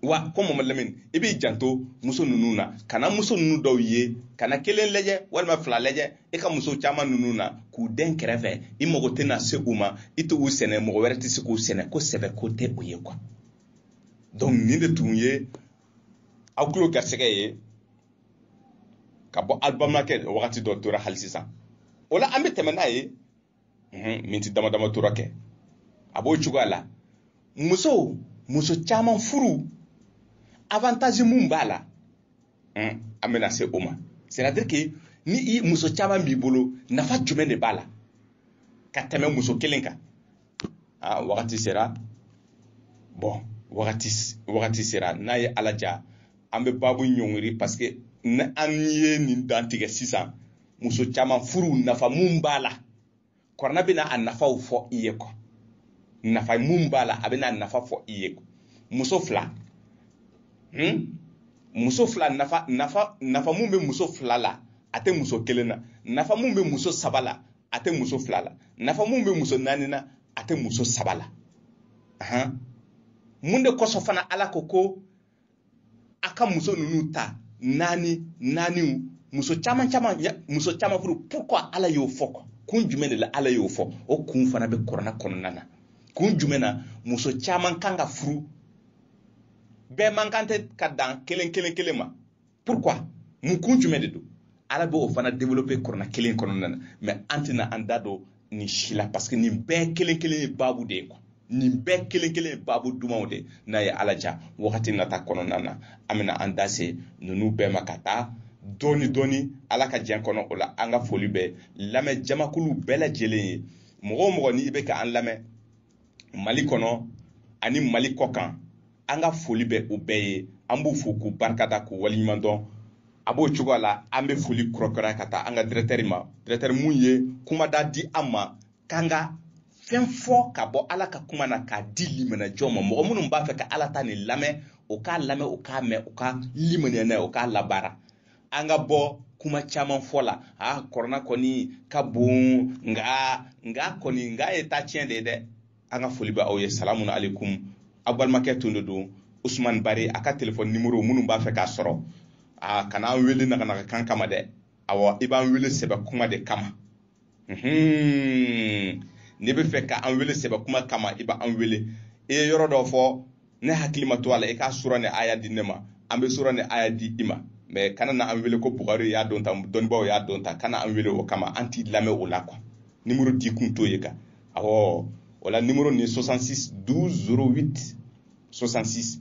wa ko mamadu lamini i b'i janto muso ninnu na kana muso ninnu dɔw ye kana kelen lajɛ walima fila lajɛ i ka muso caman ninnu na k'u dɛn kɛrɛfɛ i mago tɛna se u ma i t'u sɛnɛ mɔgɔ wɛrɛ tɛ se k'u sɛnɛ ko sɛbɛ ko tɛ o ye quoi donc nin de tun ye aw tulo garisɛgɛ ye ka bɔ alibamakɛ wagati dɔ tora hali sisan o la an bɛ tɛmɛ n'a ye miniti dama dama tora kɛ a b'o cogoya la musow muso caman furu avantage mun b'a la an bɛna se o ma c'est-à-dire que ni i muso caman b'i bolo nafa jumɛn de b'a la ka tɛmɛ muso kelen kan a wagati sera bon wagati wagati sera n'a ye ala ja an bɛ babu ɲɔngiri parce que ni an ye nin dantigɛ sisan muso caman furu nafa mun b'a la kurana bɛna a nafaw fɔ i ye ko nafa mun b'a la a bɛna a nafa fɔ i ye muso fila hmm? muso fila nafa nafa nafa mun bɛ muso fila la a tɛ muso kelen na nafa mun bɛ muso saba la a tɛ muso fila la nafa mun bɛ muso naani na a tɛ muso saba la ahan mun de kosɔn fana ala ko ko a ka muso ninnu ta naani naaniw muso caman caman muso caman furu pourquoi ala y'o fɔ ko kun jumɛn de la ala y'o fɔ o kun fana bɛ kurana kɔnɔna na kun jumɛn na muso caman kan ka furu bɛɛ man kan tɛ ka dan kelen kelen kelen ma pourquoi mun kun jumɛn de don ala b'o fana développer kuranɛ kelen kɔnɔna na mais an tɛna an da don nin si la parce que nin bɛɛ kelen kelen ye baabu de ye quoi nin bɛɛ kelen kelen ye baabu dumanw de n'a ye ala diya wagati nata kɔnɔna na an bɛna an da se ninnu bɛɛ ma ka taa dɔɔni dɔɔni ala ka diɲɛ kɔnɔ o la an ka foli bɛ lamɛn jamakulu bɛɛ lajɛlen ye mɔgɔ o mɔgɔ n'i bɛ ka an lamɛn mali kɔnɔ ani mali kɔ kan an ka foli bɛ u bɛɛ ye an b'u fo k'u barikada k'u waleɲuman dɔn a b'o cogoya la an bɛ foli kɛrɛnkɛrɛnya ka taa an ka directeur ma directeur min ye kumada di an ma k'an ka fɛn fɔ ka bɔ ala ka kuma na k'a di limanajɔ ma mɔgɔ minnu b'a fɛ ka ala ta nin lamɛn o k'a lamɛn o k'a mɛn o ka limaniya n'a ye o k'a labaara an ka bɔ kuma caman fɔ la a kɔrɔna kɔni ka bon nka nka kɔni nka ye taa tiɲɛ de ye dɛ an ka foli bɛ aw ye salamu alaikum aw balimakɛ tun de don usumani bari a ka telefɔni nimoro minnu b'a fɛ k'a sɔrɔ a kana an wele naganaga kan kama dɛ awɔ i b'an wele sɛbɛ kuma de kama n'i b'a fɛ ka an wele sɛbɛ kuma kama i bɛ an wele i ye yɔrɔ dɔ fɔ ne hakili ma to a la i k'a sura ni aya di ne ma an bɛ sura ni aya di i ma mais kana na an wele ko bugari y'a dɔn tan dɔnnibaaw y'a dɔn tan kana an wele o kama an t'i lamɛn o la quoi nimoro di kun t'o ye quoi awɔ o la nimoro nin ye 66 12 08 66